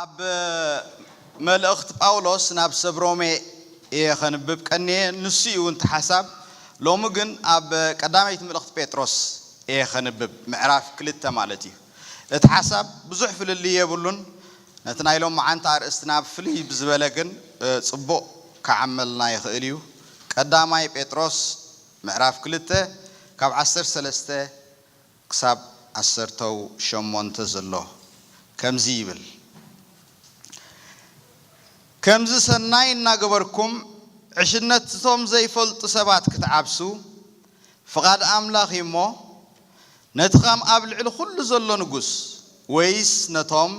ኣብ መልእኽት ጳውሎስ ናብ ሰብ ሮሜ እየ ከንብብ ቀንየ ንሱ እዩ እውንቲ ሓሳብ ሎሚ ግን ኣብ ቀዳመይቲ ምልእኽት ጴጥሮስ እየ ከንብብ ምዕራፍ ክልተ ማለት እዩ እቲ ሓሳብ ብዙሕ ፍልልይ የብሉን ነቲ ናይ ሎምዓንቲ ኣርእስትና ብፍልይ ብዝበለ ግን ጽቡቕ ክዓመልና ይኽእል እዩ። ቀዳማይ ጴጥሮስ ምዕራፍ ክልተ ካብ ዓሰርተ ሰለስተ ክሳብ ዓሰርተው ሸሞንተ ዘሎ ከምዚ ይብል፣ ከምዚ ሰናይ እናገበርኩም ዕሽነት'ቶም ዘይፈልጡ ሰባት ክትዓብሱ ፍቓድ ኣምላኽ እዩ እሞ፣ ነቲ ኸም ኣብ ልዕሊ ዅሉ ዘሎ ንጉስ፣ ወይስ ነቶም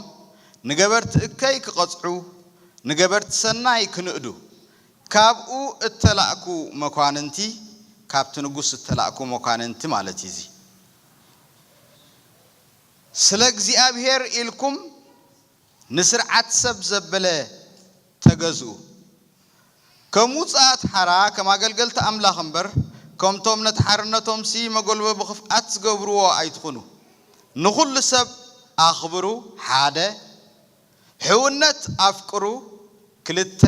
ንገበርቲ እከይ ኪቐጽዑ፣ ንገበርቲ ሰናይ ኪንእዱ፣ ካብኡ እተላእኩ መኳንንቲ፣ ካብቲ ንጉስ እተላእኩ መኳንንቲ ማለት እዩ እዚ፣ ስለ እግዚኣብሄር ኢልኩም፣ ንስርዓት ሰብ ዘበለ ተገዝኡ። ከም ውጹኣት ሓራ፣ ከም ኣገልገልቲ ኣምላኽ እምበር፣ ከምቶም ነቲ ሓርነቶምሲ መጎልበቢ ክፍኣት ዝገብርዎ ኣይትኹኑ። ንኹሉ ሰብ ኣኽብሩ፣ ሓደ። ሕውነት ኣፍቅሩ፣ ክልተ።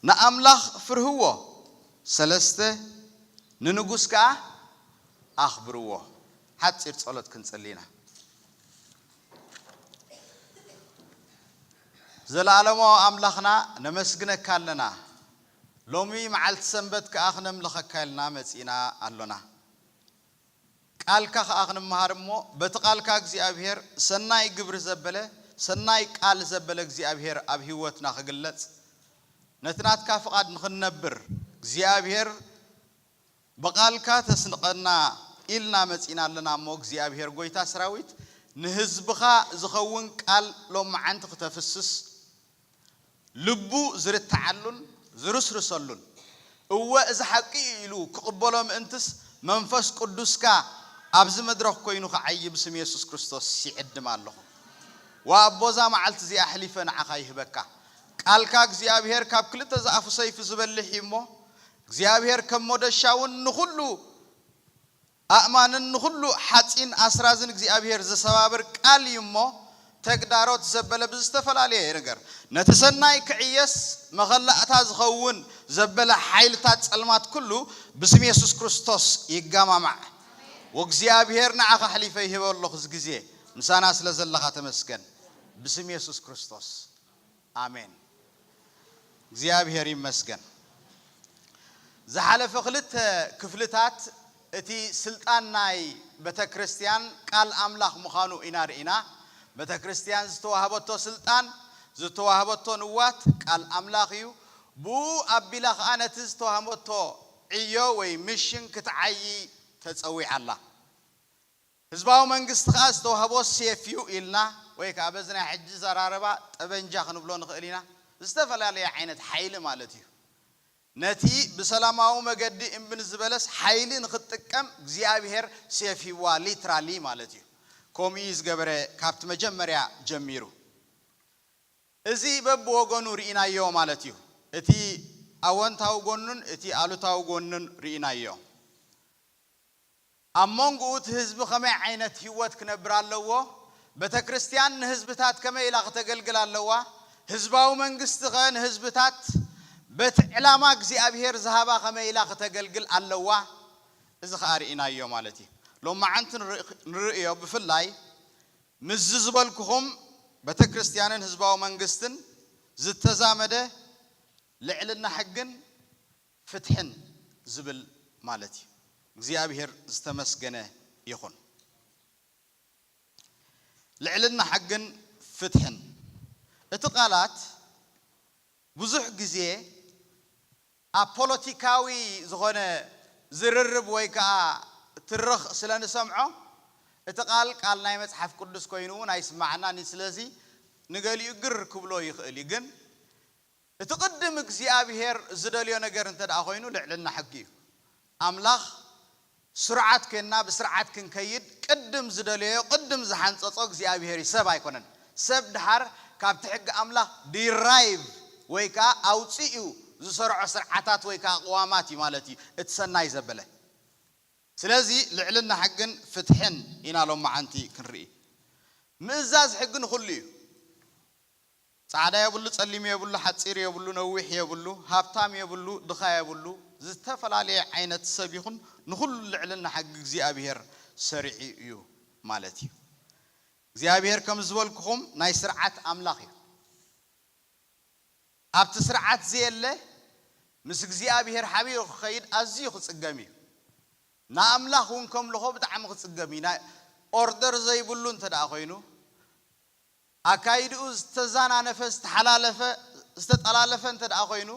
ንኣምላኽ ፍርህዎ፣ ሰለስተ። ንንጉስ ከኣ ኣኽብርዎ። ሓጺር ጸሎት ክንጽሊ ኢና። ዘለኣለማዊ ኣምላኽና ነመስግነካ ኣለና ሎሚ መዓልቲ ሰንበት ከኣ ክነምልኸካ ኢልና መጺእና ኣሎና ቃልካ ከኣ ክንመሃር እሞ በቲ ቃልካ እግዚኣብሄር ሰናይ ግብሪ ዘበለ ሰናይ ቃል ዘበለ እግዚኣብሄር ኣብ ህይወትና ክግለጽ ነቲ ናትካ ፍቓድ ንኽንነብር እግዚኣብሄር ብቃልካ ተስንቀና ኢልና መጺና ኣለና እሞ እግዚኣብሄር ጎይታ ስራዊት ንህዝብኻ ዝኸውን ቃል ሎምዓንቲ ክተፍስስ ልቡ ዝርትዓሉን ዝርስርሰሉን እወ እዚ ሓቂ እዩ ኢሉ ክቅበሎ ምእንትስ መንፈስ ቁዱስካ ኣብዚ መድረኽ ኮይኑ ክዓዪ ብስም የሱስ ክርስቶስ ይዕድም ኣለኹ ዋኣቦ እዛ መዓልቲ እዚኣ ኣሕሊፈ ንዓኻ ይህበካ ቃልካ እግዚኣብሄር ካብ ክልተ ዝኣፉ ሰይፊ ዝበልሕ እዩ እሞ እግዚኣብሔር ከም ሞደሻውን ንኹሉ ኣእማንን ንኹሉ ሓጺን ኣስራዝን እግዚኣብሔር ዝሰባብር ቃል እዩ እሞ ተግዳሮት ዘበለ ብዝተፈላለየ ይንገር ነቲ ሰናይ ክዕየስ መኸላእታ ዝኸውን ዘበለ ሓይልታት ጸልማት ኩሉ ብስም የሱስ ክርስቶስ ይጋማማዕ ወእግዚኣብሔር ንዓኻ ኣሕሊፈ ይህበ ኣሎኹ እዚ ግዜ ምሳና ስለ ዘለኻ ተመስገን ብስም የሱስ ክርስቶስ። ኣሜን እግዚኣብሔር ይመስገን ዝሓለፈ ክልተ ክፍልታት እቲ ስልጣን ናይ በተክርስትያን ቃል ኣምላኽ ምኻኑ ኢና ርኢና በተክርስትያን ዝተዋህበቶ ስልጣን ዝተዋህበቶ ንዋት ቃል ኣምላኽ እዩ ብኡ ኣቢላ ከኣ ነቲ ዝተዋህበቶ ዕዮ ወይ ምሽን ክትዓዪ ተጸዊዓ ኣላ ህዝባዊ መንግስቲ ከኣ ዝተዋህቦ ሴፍ'ዩ ኢልና ወይ ከኣ በዚ ናይ ሕጂ ዘራርባ ጠበንጃ ክንብሎ ንኽእል ኢና፣ ዝተፈላለየ ዓይነት ሓይሊ ማለት'ዩ። ነቲ ብሰላማዊ መገዲ እምቢ ንዝበለስ ሓይሊ ንኽጥቀም እግዚኣብሄር ሴፍ ሂብዋ literally ማለት'ዩ። ከምኡ'ዩ ዝገበረ ካብቲ መጀመርያ ጀሚሩ። እዚ በብወገኑ ርኢናዮ ማለት'ዩ። እቲ ኣወንታዊ ጎኑን እቲ ኣሉታዊ ጎኑን ርኢናዮ። ኣብ ሞንጉኡ እቲ ህዝቢ ከመይ ዓይነት ሂወት ክነብር ኣለዎ፣ በተክርስትያን ንህዝብታት ከመይ ኢላ ክተገልግል ኣለዋ፣ ህዝባዊ መንግስቲ ከ ንህዝብታት በቲ ዕላማ እግዚኣብሄር ዝሃባ ከመይ ኢላ ክተገልግል ኣለዋ እዚ ከኣ ርኢናዮ ማለት እዩ። ሎማዓንቲ ንርእዮ ብፍላይ ምስዚ ዝበልኩኹም በተክርስትያንን ህዝባዊ መንግስትን ዝተዛመደ ልዕልና ሕግን ፍትሕን ዝብል ማለት እዩ እግዚኣብሔር ዝተመስገነ ይኹን ልዕልና ሕግን ፍትሕን እቲ ቃላት ብዙሕ ግዜ ኣብ ፖለቲካዊ ዝኾነ ዝርርብ ወይ ከኣ ትርኽ ስለ ንሰምዖ እቲ ቃል ቃል ናይ መጽሓፍ ቅዱስ ኮይኑ ውን ኣይስመዓናን እዩ ስለዚ ንገሊኡ ግር ክብሎ ይኽእል እዩ ግን እቲ ቅድም እግዚኣብሄር ዝደልዮ ነገር እንተድኣ ኮይኑ ልዕልና ሕጊ እዩ። ኣምላኽ ስሩዓት ኴንና ብስርዓት ክንከይድ ቅድም ዝደለዮ ቅድም ዝሓንጸጾ እግዚኣብሄር እዩ ሰብ ኣይኮነን። ሰብ ድሓር ካብቲ ሕጊ ኣምላኽ ዲራይቭ ወይ ከኣ ኣውጺኡ ዝሰርዖ ስርዓታት ወይ ከኣ ቅዋማት እዩ ማለት እዩ እቲ ሰናይ ዘበለ። ስለዚ ልዕልና ሕግን ፍትሕን ኢና ሎምዓንቲ ክንርኢ። ምእዛዝ ሕጊ ንኹሉ እዩ። ጻዕዳ የብሉ ጸሊም የብሉ ሓጺር የብሉ ነዊሕ የብሉ ሃብታም የብሉ ድኻ የብሉ ዝተፈላለየ ዓይነት ሰብ ይኹን ንኹሉ ልዕልና ሕጊ እግዚኣብሄር ሰሪዑ እዩ ማለት እዩ እግዚኣብሄር ከም ዝበልኩኹም ናይ ስርዓት ኣምላኽ እዩ ኣብቲ ስርዓት ዘየለ ምስ እግዚኣብሄር ሓቢሩ ክኸይድ ኣዝዩ ክጽገም እዩ ንኣምላኽ እውን ከምልኾ ብጣዕሚ ክጽገም እዩ ናይ ኦርደር ዘይብሉ እንተ ኮይኑ ኣካይድኡ ዝተዛናነፈ፣ ዝተሓላለፈ፣ ዝተጠላለፈ እንተድኣ ኮይኑ፣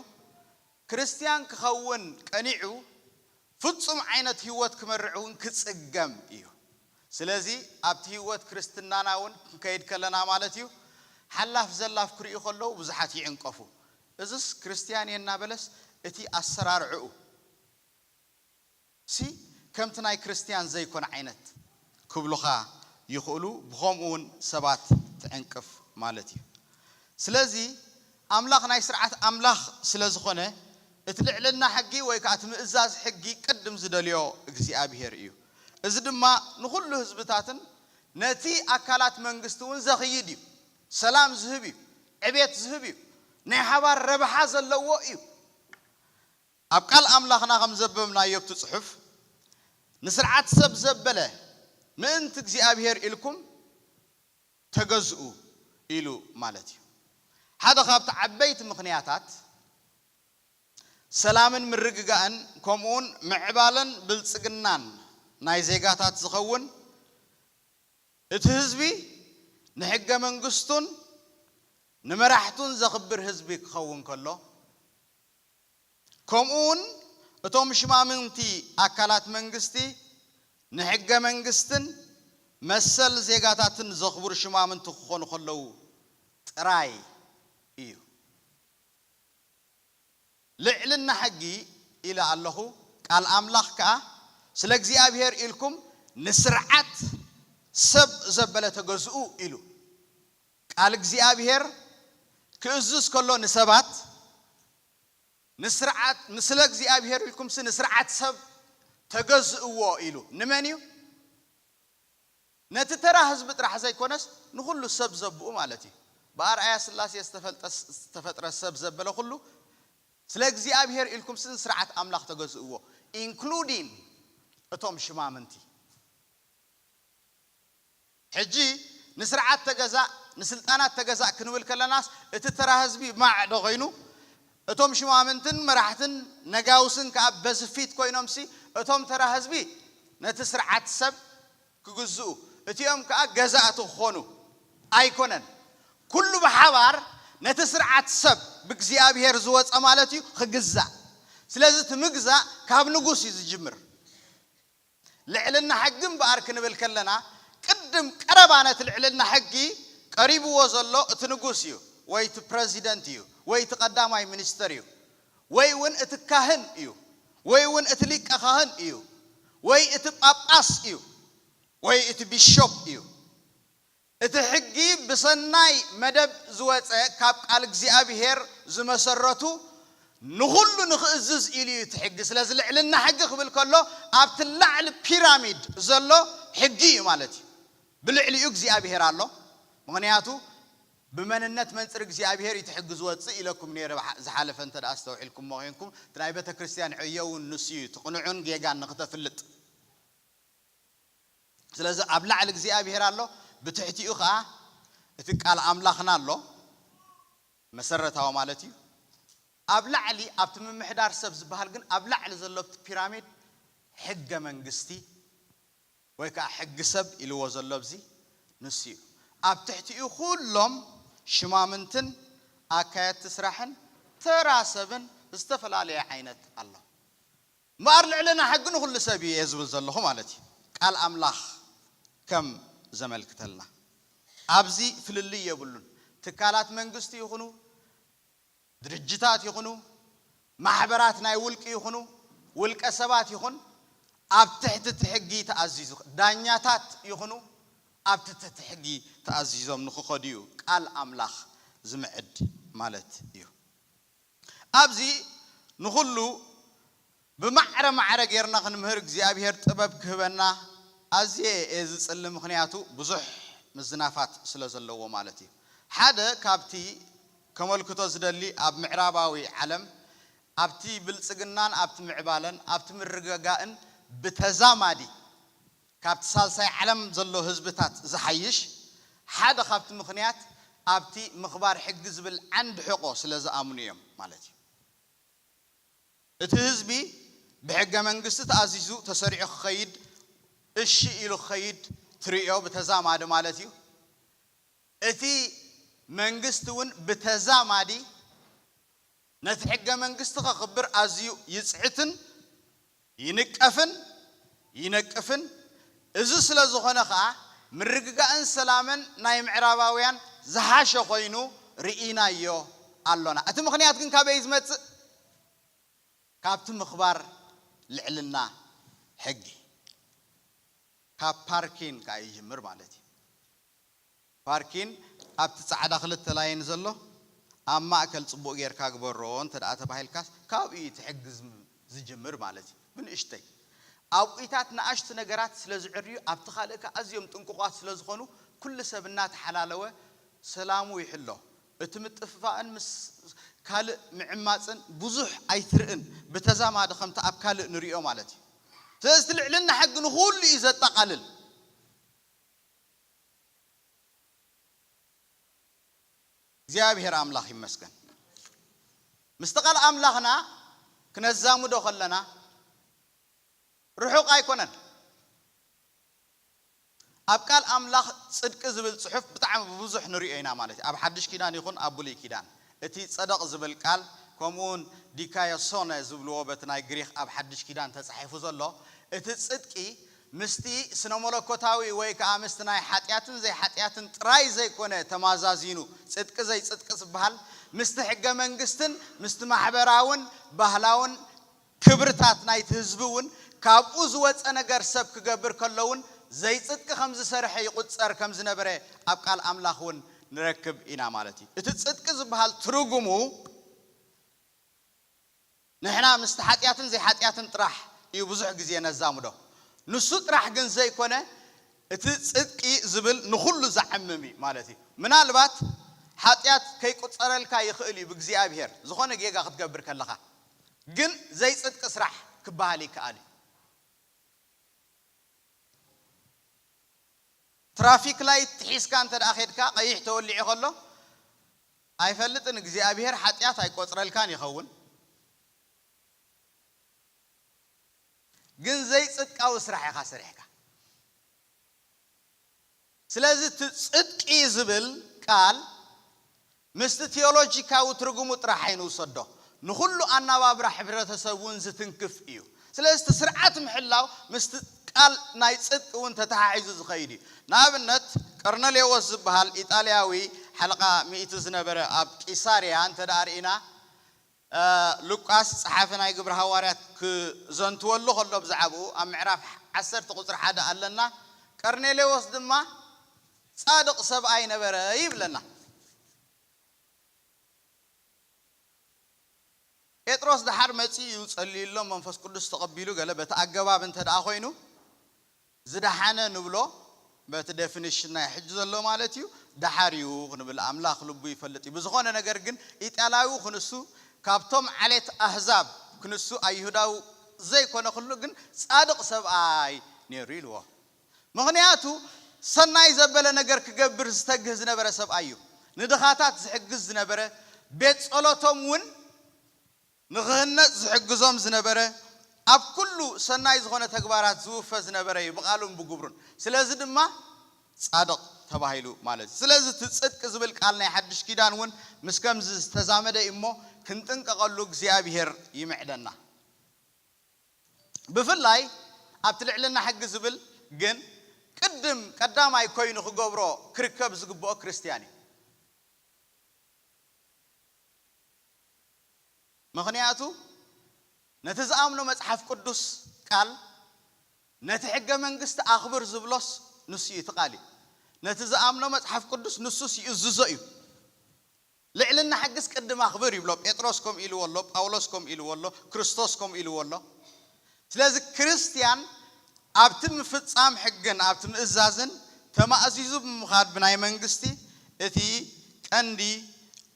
ክርስትያን ክኸውን ቀኒዑ ፍጹም ዓይነት ህይወት ክመርሕ እውን ክጽገም እዩ። ስለዚ ኣብቲ ህይወት ክርስትናና እውን ክንከይድ ከለና ማለት እዩ፣ ሓላፍ ዘላፍ ክርእዩ ከለዉ ብዙሓት ይዕንቀፉ። እዝስ ክርስትያን እየ እናበለስ እቲ ኣሰራርዕኡ፣ ሲ ከምቲ ናይ ክርስትያን ዘይኮነ ዓይነት ክብሉኻ ይኽእሉ ብኸምኡ ውን ሰባት ትዕንቅፍ ማለት እዩ ስለዚ ኣምላኽ ናይ ስርዓት ኣምላኽ ስለ ዝኾነ እቲ ልዕልና ሕጊ ወይ ከኣ እቲ ምእዛዝ ሕጊ ቅድም ዝደልዮ እግዚኣብሄር እዩ እዚ ድማ ንኹሉ ህዝብታትን ነቲ ኣካላት መንግስቲ ውን ዘኽይድ እዩ ሰላም ዝህብ እዩ ዕቤት ዝህብ እዩ ናይ ሓባር ረብሓ ዘለዎ እዩ። ኣብ ቃል ኣምላኽና ከም ዘበብናዮ ኣብቲ ጽሑፍ ንስርዓት ሰብ ዘበለ ምእንቲ እግዚኣብሄር ኢልኩም ተገዝኡ ኢሉ ማለት እዩ። ሓደ ካብቲ ዓበይቲ ምኽንያታት ሰላምን ምርግጋእን ከምኡውን ምዕባለን ብልጽግናን ናይ ዜጋታት ዝኸውን እቲ ህዝቢ ንሕገ መንግስቱን ንመራሕቱን ዘኽብር ህዝቢ ክኸውን ከሎ ከምኡ'ውን እቶም ሽማምንቲ ኣካላት መንግስቲ ንሕገ መንግስትን መሰል ዜጋታትን ዘኽብሩ ሽማምንቲ ክኾኑ ከለዉ ጥራይ እዩ። ልዕልና ሕጊ ኢለ ኣለኹ፣ ቃል ኣምላኽ ከኣ ስለ እግዚኣብሄር ኢልኩም ንስርዓት ሰብ ዘበለ ተገዝኡ ኢሉ ቃል እግዚኣብሄር ክእዝዝ ከሎ ንሰባት ንስርዓት ንስለ እግዚኣብሄር ኢልኩምሲ ንስርዓት ሰብ ተገዝእዎ ኢሉ ንመን እዩ ነቲ ተራ ህዝቢ ጥራሕ ዘይኮነስ ንኹሉ ሰብ ዘብኡ ማለት እዩ ብኣርኣያ ስላሴ ዝተፈልጠ ዝተፈጥረ ሰብ ዘበለ ኩሉ ስለ እግዚኣብሄር ኢልኩምሲ ንስርዓት ኣምላኽ ተገዝእዎ ኢንክሉዲን እቶም ሽማምንቲ። ሕጂ ንስርዓት ተገዛእ ንስልጣናት ተገዛእ ክንብል ከለናስ እቲ ተራ ህዝቢ ማዕ ዶ ኮይኑ እቶም ሽማምንትን መራሕትን ነጋውስን ከኣ በዚ ፊት ኮይኖምሲ እቶም ተራ ህዝቢ ነቲ ስርዓት ሰብ ክግዝኡ እቲኦም ከኣ ገዛእቲ ክኾኑ ኣይኮነን ኩሉ ብሓባር ነቲ ስርዓት ሰብ ብእግዚኣብሄር ዝወጸ ማለት እዩ ክግዛእ ስለዚ እቲ ምግዛእ ካብ ንጉስ እዩ ዝጅምር። ልዕልና ሕጊ እምበኣር ክንብል ከለና ቅድም ቀረባ ነቲ ልዕልና ሕጊ ቀሪብዎ ዘሎ እቲ ንጉስ እዩ ወይ እቲ ፕረዚደንት እዩ ወይ እቲ ቀዳማይ ሚኒስተር እዩ ወይ እውን እቲ ካህን እዩ ወይ እውን እቲ ሊቀ ኻህን እዩ ወይ እቲ ጳጳስ እዩ ወይ እቲ ቢሾፕ እዩ። እቲ ሕጊ ብሰናይ መደብ ዝወጸ ካብ ቃል እግዚኣብሄር ዝመሰረቱ ንኹሉ ንኽእዝዝ ኢሉ እዩ እቲ ሕጊ ስለዚ ልዕልና ሕጊ ክብል ከሎ ኣብቲ ላዕሊ ፒራሚድ ዘሎ ሕጊ እዩ ማለት እዩ ብልዕሊኡ እግዚኣብሄር ኣሎ ምኽንያቱ ብመንነት መንጽር እግዚኣብሄር እዩ እቲ ሕጊ ዝወጽእ ኢለኩም ኔረ ዝሓለፈ እንተ ኣስተውዒልኩሞ ኴንኩም እቲ ናይ ቤተክርስትያን ዕዮ እውን ንሱ እዩ እቲ ቅኑዕን ጌጋን ንኽተፍልጥ ስለዚ ኣብ ላዕሊ እግዚኣብሄር ኣሎ፣ ብትሕቲኡ ከኣ እቲ ቃል ኣምላኽና ኣሎ፣ መሰረታዊ ማለት እዩ። ኣብ ላዕሊ ኣብቲ ምምሕዳር ሰብ ዝበሃል ግን ኣብ ላዕሊ ዘሎ ኣብቲ ፒራሚድ ሕገ መንግስቲ ወይ ከኣ ሕጊ ሰብ ኢልዎ ዘሎ ኣብዚ ንሱ እዩ። ኣብ ትሕቲኡ ኩሎም ሽማምንትን ኣካየድቲ ስራሕን ተራ ሰብን ዝተፈላለየ ዓይነት ኣሎ። እምበኣር ልዕልና ሕጊ ንኹሉ ሰብ እዩ እየ ዝብል ዘለኹ ማለት እዩ። ቃል ኣምላኽ ከም ዘመልክተልና ኣብዚ ፍልልይ የብሉን። ትካላት መንግስቲ ይኹኑ፣ ድርጅታት ይኹኑ፣ ማሕበራት ናይ ውልቂ ይኹኑ፣ ውልቀ ሰባት ይኹን ኣብ ትሕቲ እቲ ሕጊ ተኣዚዙ፣ ዳኛታት ይኹኑ ኣብ ትቲ እቲ ሕጊ ተኣዚዞም ንክኸዱ እዩ ቃል ኣምላኽ ዝምዕድ ማለት እዩ። ኣብዚ ንኹሉ ብማዕረ ማዕረ ጌርና ክንምህር እግዚኣብሄር ጥበብ ክህበና ኣዝየ እየ ዝጽሊ ምኽንያቱ ብዙሕ ምዝናፋት ስለ ዘለዎ ማለት እዩ። ሓደ ካብቲ ከመልክቶ ዝደሊ ኣብ ምዕራባዊ ዓለም ኣብቲ ብልጽግናን ኣብቲ ምዕባለን ኣብቲ ምርግጋእን ብተዛማዲ ካብቲ ሳልሳይ ዓለም ዘሎ ህዝብታት ዝሓይሽ፣ ሓደ ካብቲ ምኽንያት ኣብቲ ምኽባር ሕጊ ዝብል ዓንዲ ሕቖ ስለ ዝኣምኑ እዮም ማለት እዩ። እቲ ህዝቢ ብሕገ መንግስቲ ተኣዚዙ ተሰሪዑ ክኸይድ እሺ ኢሉ ክኸይድ ትርእዮ ብተዛማዲ ማለት እዩ። እቲ መንግስቲ እውን ብተዛማዲ ነቲ ሕገ መንግስቲ ከኽብር ኣዝዩ ይጽዕትን ይንቀፍን ይነቅፍን፣ እዚ ስለ ዝኾነ ከኣ ምርግጋእን ሰላምን ናይ ምዕራባውያን ዝሓሸ ኮይኑ ርኢናዮ ኣሎና። እቲ ምኽንያት ግን ካበይ እዩ ዝመጽእ? ካብቲ ምኽባር ልዕልና ሕጊ፣ ካብ ፓርኪን ከኣ ይጅምር ማለት እዩ። ፓርኪን ኣብቲ ጻዕዳ ክልተ ላይን ዘሎ ኣብ ማእከል ጽቡቅ ጌርካ ግበሮ እንተድኣ ተባሂልካስ ካብኡ እዩ እቲ ሕግዝ ዝጅምር ማለት እዩ ብንእሽተይ ኣብኡይታት ንኣሽቱ ነገራት ስለ ዝዕርዩ ኣብቲ ካልእ ከኣ ኣዝዮም ጥንቁቃት ስለ ዝኮኑ ኩሉ ሰብ እናተሓላለወ ሰላሙ ይሕሎ እቲ ምጥፍፋእን ምስ ካልእ ምዕማጽን ብዙሕ ኣይትርእን ብተዛማዲ ከምቲ ኣብ ካልእ ንርእዮ ማለት እዩ ስለዚ እቲ ልዕልና ሕጊ ንኩሉ እዩ ዘጠቃልል። እግዚኣብሔር ኣምላኽ ይመስገን ምስቲ ቃል ኣምላኽና ክነዛምዶ ከለና ርሑቅ ኣይኮነን ኣብ ቃል ኣምላኽ ጽድቂ ዝብል ጽሑፍ ብጣዕሚ ብብዙሕ ንሪኦ ኢና ማለት እዩ ኣብ ሓድሽ ኪዳን ይኹን ኣብ ብሉይ ኪዳን እቲ ጸደቕ ዝብል ቃል ከምኡውን ዲካዮሶነ ዝብልዎ በቲ ናይ ግሪኽ ኣብ ሓድሽ ኪዳን ተጻሒፉ ዘሎ እቲ ጽድቂ ምስቲ ስነመለኮታዊ ወይ ከኣ ምስቲ ናይ ሓጢኣትን ዘይሓጢኣትን ጥራይ ዘይኮነ ተማዛዚኑ ጽድቂ ዘይጽድቂ ዝብሃል ምስቲ ሕገ መንግስትን ምስቲ ማሕበራውን ባህላውን ክብርታት ናይቲ ህዝቢ እውን ካብኡ ዝወጸ ነገር ሰብ ክገብር ከሎ እውን ዘይጽድቂ ከም ዝሰርሐ ይቑጸር ከም ዝነበረ ኣብ ቃል ኣምላኽ እውን ንረክብ ኢና ማለት እዩ። እቲ ጽድቂ ዝበሃል ትርጉሙ ንሕና ምስቲ ሓጢኣትን ዘይሓጢኣትን ጥራሕ እዩ ብዙሕ ግዜ ነዛምዶ። ንሱ ጥራሕ ግን ዘይኮነ እቲ ጽድቂ ዝብል ንኹሉ ዘዕምም እዩ ማለት እዩ። ምናልባት ሓጢኣት ከይቁጸረልካ ይኽእል እዩ ብእግዚኣብሄር ዝኾነ ጌጋ ክትገብር ከለኻ። ግን ዘይጽድቂ ስራሕ ክበሃል ይከኣል እዩ። ትራፊክ ላይት ሒዝካ እንተ ኬድካ ቀይሕ ተወሊዑ ከሎ ኣይፈልጥን እግዚኣብሄር ሓጥያት ኣይቆጽረልካን ይኸውን ግን ዘይጽድቃዊ ስራሕ ኢኻ ሰሪሕካ። ስለዚ እቲ ጽድቂ ዝብል ቃል ምስቲ ቲዮሎጂካዊ ትርጉሙ ጥራሕ ኣይንውሰዶ፣ ንኹሉ ኣናባብራ ሕብረተሰብ እውን ዝትንክፍ እዩ። ስለዚ እቲ ስርዓት ምሕላው ምስቲ ቃል ናይ ጽድቂ እውን ተተሓሒዙ ዝኸይድ እዩ። ንኣብነት ቀርነሌዎስ ዝበሃል ኢጣልያዊ ሓለቓ ሚእቲ ዝነበረ ኣብ ቂሳርያ እንተድኣ ርኢና፣ ሉቃስ ጸሓፊ ናይ ግብሪ ሃዋርያት ክዘንትወሉ ከሎ ብዛዕባኡ ኣብ ምዕራፍ ዓሰርተ ቁጽሪ ሓደ ኣለና ቀርኔሌዎስ ድማ ጻድቕ ሰብኣይ ነበረ ይብለና። ጴጥሮስ ደሓር መጺኡ እዩ ጸልዩሎም መንፈስ ቅዱስ ተቐቢሉ ገለ በቲ ኣገባብ እንተደኣ ኮይኑ ዝደሓነ ንብሎ በቲ ደፊንሽን ናይ ሕጂ ዘሎ ማለት እዩ ደሓር እዩ ክንብል ኣምላኽ ልቡ ይፈልጥ እዩ ብዝኾነ ነገር ግን ኢጣልያዊ ክንሱ ካብቶም ዓሌት ኣህዛብ ክንሱ ኣይሁዳዊ ዘይኮነ ክሉ ግን ጻድቕ ሰብኣይ ኔሩ ኢልዎ ምኽንያቱ ሰናይ ዘበለ ነገር ክገብር ዝተግህ ዝነበረ ሰብኣይ እዩ ንድኻታት ዝሕግዝ ዝነበረ ቤት ጸሎቶም ውን ንኽህነጽ ዝሕግዞም ዝነበረ፣ ኣብ ኩሉ ሰናይ ዝኾነ ተግባራት ዝውፈ ዝነበረ እዩ፣ ብቓሉን ብግብሩን። ስለዚ ድማ ጻድቕ ተባሂሉ ማለት እዩ። ስለዚ እቲ ጽድቂ ዝብል ቃል ናይ ሓድሽ ኪዳን እውን ምስ ከምዚ ዝተዛመደ እዩ እሞ ክንጥንቀቐሉ እግዚኣብሄር ይምዕደና። ብፍላይ ኣብቲ ልዕልና ሕጊ ዝብል ግን ቅድም ቀዳማይ ኮይኑ ክገብሮ ክርከብ ዝግብኦ ክርስትያን እዩ። ምኽንያቱ ነቲ ዝኣምኖ መጽሓፍ ቅዱስ ቃል ነቲ ሕገ መንግስቲ ኣኽብር ዝብሎስ ንሱ እዩ እቲ ቃል እዩ ነቲ ዝኣምኖ መጽሓፍ ቅዱስ ንሱስ ይእዝዞ እዩ ልዕልና ሕግስ ቅድም ኣኽብር ይብሎ ጴጥሮስ ከምኡ ኢልዎ ኣሎ ጳውሎስ ከምኡ ኢልዎ ኣሎ ክርስቶስ ከምኡ ኢልዎ ኣሎ ስለዚ ክርስትያን ኣብቲ ምፍጻም ሕግን ኣብቲ ምእዛዝን ተማእዚዙ ብምኻድ ብናይ መንግስቲ እቲ ቀንዲ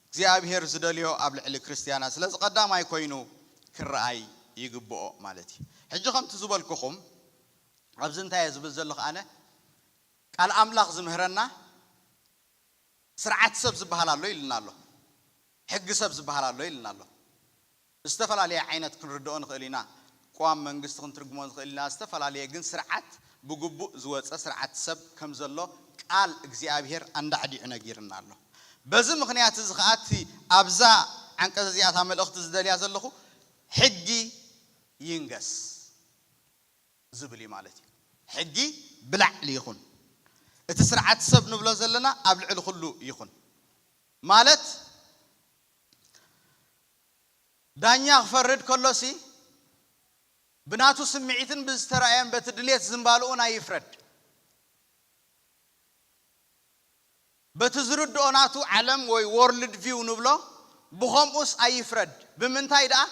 እግዚኣብሄር ዝደልዮ ኣብ ልዕሊ ክርስትያናት ስለዚ ቀዳማይ ኮይኑ ክርኣይ ይግብኦ ማለት እዩ። ሕጂ ከምቲ ዝበልኩኹም ኣብዚ እንታይ እየ ዝብል ዘለኹ ኣነ ቃል ኣምላኽ ዝምህረና ስርዓት ሰብ ዝበሃል ኣሎ ኢሉና ኣሎ። ሕጊ ሰብ ዝበሃል ኣሎ ኢሉና ኣሎ። ብዝተፈላለየ ዓይነት ክንርድኦ ንኽእል ኢና። ቅዋም መንግስቲ ክንትርጉሞ ንኽእል ኢና ዝተፈላለየ ግን ስርዓት ብግቡእ ዝወጸ ስርዓት ሰብ ከም ዘሎ ቃል እግዚኣብሄር ኣንዳዕዲዑ ነጊርና ኣሎ። በዚ ምኽንያት እዚ ኸኣ እቲ ኣብዛ ዓንቀጽ እዚኣ እታ መልእኽቲ ዝደልያ ዘለኹ ሕጊ ይንገስ ዝብል እዩ ማለት እዩ። ሕጊ ብላዕሊ ይኹን። እቲ ስርዓት ሰብ ንብሎ ዘለና ኣብ ልዕሊ ኹሉ ይኹን ማለት ዳኛ ክፈርድ ከሎሲ ብናቱ ስምዒትን ብዝተራእየን በቲ ድሌት ዝምባልኡን ኣይፍረድ። በቲ ዝርድኦ ናቱ ዓለም ወይ ዎርልድ ቪው ንብሎ ብኸምኡስ ኣይፍረድ። ብምንታይ ድኣ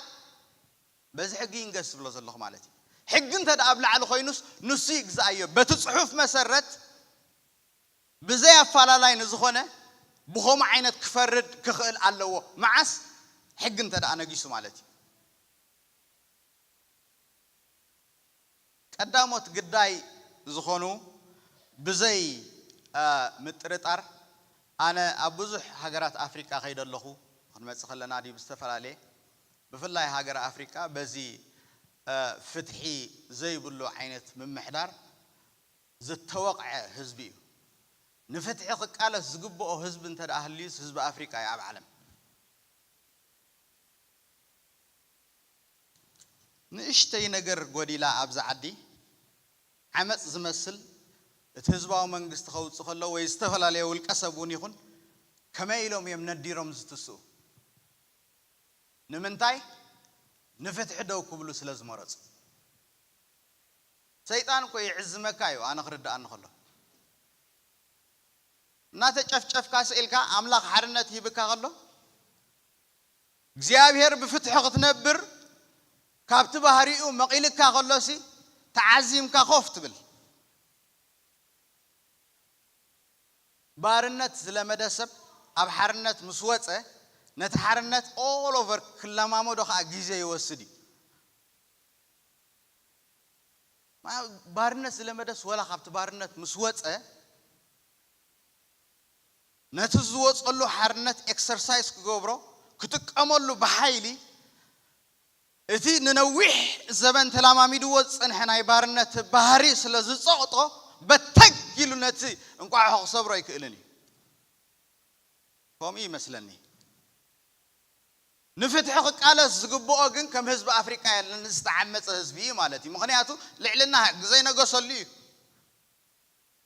በዚ ሕጊ ይንገስ ዝብሎ ዘለኹ ማለት እዩ። ሕጊ እንተድኣ ኣብ ላዕሊ ኮይኑስ ንሱ ይግዝኣዮ። በቲ ጽሑፍ መሰረት። ብዘይ ኣፋላላይ ንዝኾነ ብኸምኡ ዓይነት ክፈርድ ክኽእል ኣለዎ። መዓስ? ሕጊ እንተድኣ ነጊሱ ማለት እዩ። ቀዳሞት ግዳይ ዝኾኑ ብዘይ ምጥርጣር ኣነ ኣብ ብዙሕ ሃገራት ኣፍሪቃ ከይደ ኣለኹ፣ ክንመጽእ ከለና ድዩ ብዝተፈላለየ ብፍላይ ሃገረ ኣፍሪቃ በዚ ፍትሒ ዘይብሉ ዓይነት ምምሕዳር፣ ዝተወቕዐ ህዝቢ እዩ። ንፍትሒ ክቃለስ ዝግብኦ ህዝቢ እንተ ደኣ ሃልዩስ ህዝቢ ኣፍሪቃ እዩ ኣብ ዓለም። ንእሽተይ ነገር ጎዲላ ኣብዚ ዓዲ ዓመጽ ዝመስል እቲ ህዝባዊ መንግስቲ ከውጽእ ከሎ ወይ ዝተፈላለየ ውልቀ ሰብ እውን ይኹን ከመይ ኢሎም እዮም ነዲሮም ዝትስኡ? ንምንታይ? ንፍትሒ ደው ክብሉ ስለ ዝመረጹ። ሰይጣን እኮ ይዕዝመካ እዩ ኣነ ክርድኣኒ ከሎ እናተጨፍጨፍካ ስኢልካ ኣምላኽ ሓርነት ሂብካ ከሎ እግዚኣብሔር ብፍትሒ ክትነብር ካብቲ ባህሪኡ መቒልካ ከሎሲ ተዓዚምካ ኮፍ ትብል ባርነት ዝለመደ ሰብ ኣብ ሓርነት ምስ ወፀ ነቲ ሓርነት ኦል ኦቨር ክለማመዶ ከዓ ግዜ ይወስድ እዩ ባርነት ዝለመደስ ወላ ካብቲ ባርነት ምስ ወጸ ነቲ ዝወጸሉ ሓርነት ኤክሰርሳይዝ ክገብሮ ክጥቀመሉ ብሓይሊ እቲ ንነዊሕ ዘበን ተላማሚድዎ ዝጸንሐ ናይ ባርነት ባህሪ ስለ ዝጸቕጦ በተግ ኢሉ ነቲ እንቋሖ ክሰብሮ ኣይክእልን እዩ። ከምኡ ይመስለኒ። ንፍትሒ ክቃለስ ዝግብኦ ግን ከም ህዝቢ ኣፍሪቃ የለን እዚ ዝተዓመጸ ህዝቢ ኢዩ ማለት ኢዩ ምኽንያቱ ልዕልና ህግ ዘይነገሰሉ ኢዩ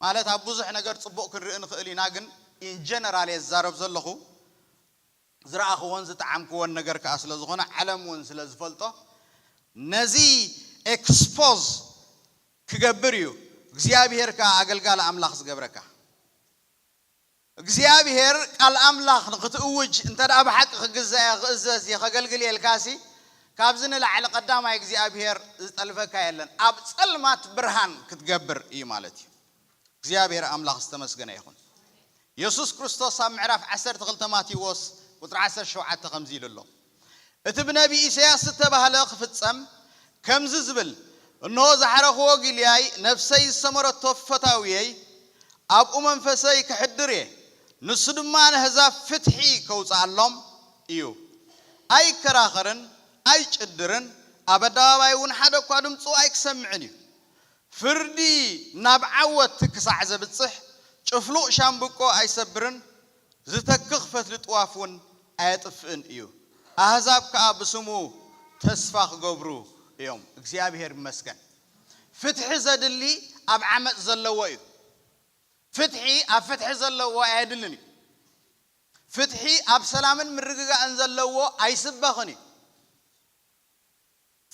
ማለት ኣብ ብዙሕ ነገር ጽቡቅ ክንርኢ ንኽእል ኢና ግን in general ኢየ ዝዛረብ ዘለኹ ዝረኣኽዎን ዝጠዓምክዎን ነገር ከኣ ስለ ዝኾነ ዓለም ውን ስለ ዝፈልጦ ነዚ expose ክገብር ኢዩ እግዚኣብሄር ከኣ ኣገልጋሊ ኣምላኽ ዝገብረካ። እግዚኣብሄር ቃል ኣምላኽ ንኽትእውጅ እንተድኣ ብሓቂ ክግዛእ እየ ክእዘዝ እየ ከገልግል እየ ኢልካሲ ካብዚ ንላዕሊ ቀዳማይ እግዚኣብሄር ዝጠልበካ የለን ኣብ ጸልማት ብርሃን ክትገብር እዩ ማለት እዩ እግዚኣብሄር ኣምላኽ ዝተመስገነ ይኹን የሱስ ክርስቶስ ኣብ ምዕራፍ ዓሰርተ ክልተ ማቴዎስ ቁጽሪ ዓሰርተ ሸውዓተ ከምዚ ኢሉ ኣሎ እቲ ብነብዪ ኢሳይያስ ዝተባህለ ክፍጸም ከምዚ ዝብል እንሆ ዝሓረኽዎ ጊልያይ ነፍሰይ ዝሰመረቶ ፈታውየይ ኣብኡ መንፈሰይ ከሕድር እየ ንሱ ድማ ነህዛብ ፍትሒ ከውጽኣሎም እዩ ኣይከራኸርን ኣይጭድርን ኣብ ኣደባባይ እውን ሓደ እኳ ድምጹ ኣይክሰምዕን እዩ ፍርዲ ናብ ዓወት ክሳዕ ዘብጽሕ ጭፍሉቕ ሻምብቆ ኣይሰብርን ዝተክኽ ፈትሊ ጥዋፍ እውን ኣየጥፍእን እዩ፣ ኣህዛብ ከኣ ብስሙ ተስፋ ክገብሩ እዮም። እግዚኣብሄር ይመስገን ፍትሒ ዘድሊ ኣብ ዓመጽ ዘለዎ እዩ፣ ፍትሒ ኣብ ፍትሒ ዘለዎ ኣየድልን እዩ፣ ፍትሒ ኣብ ሰላምን ምርግጋእን ዘለዎ ኣይስበኽን እዩ፣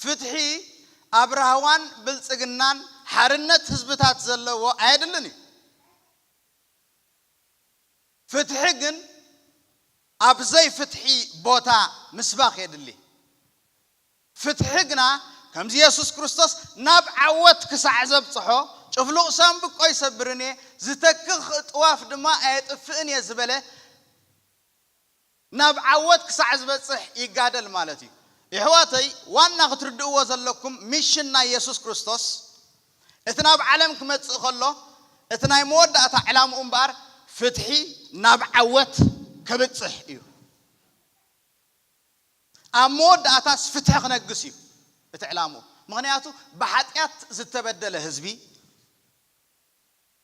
ፍትሒ ኣብ ራህዋን ብልጽግናን ሓርነት ህዝብታት ዘለዎ ኣየድልን እዩ። ፍትሒ ግን ኣብ ዘይፍትሒ ቦታ ምስባኽ የድሊ። ፍትሒ ግና ከምዚ የሱስ ክርስቶስ ናብ ዓወት ክሳዕ ዘብጽሖ፣ ጭፍሉቕ ሳንብቆ ኣይሰብርን እየ፣ ዝተክኽ ጥዋፍ ድማ ኣየጥፍእን እየ ዝበለ፣ ናብ ዓወት ክሳዕ ዝበጽሕ ይጋደል ማለት እዩ። የሕዋተይ ዋና ክትርድእዎ ዘለኩም ሚሽን ናይ የሱስ ክርስቶስ እቲ ናብ ዓለም ክመጽእ ከሎ እቲ ናይ መወዳእታ ዕላምኡ እምበኣር ፍትሒ ናብ ዓወት ከብጽሕ እዩ። ኣብ መወዳእታስ ፍትሒ ክነግስ እዩ እቲ ዕላምኡ። ምክንያቱ ብሓጢኣት ዝተበደለ ህዝቢ፣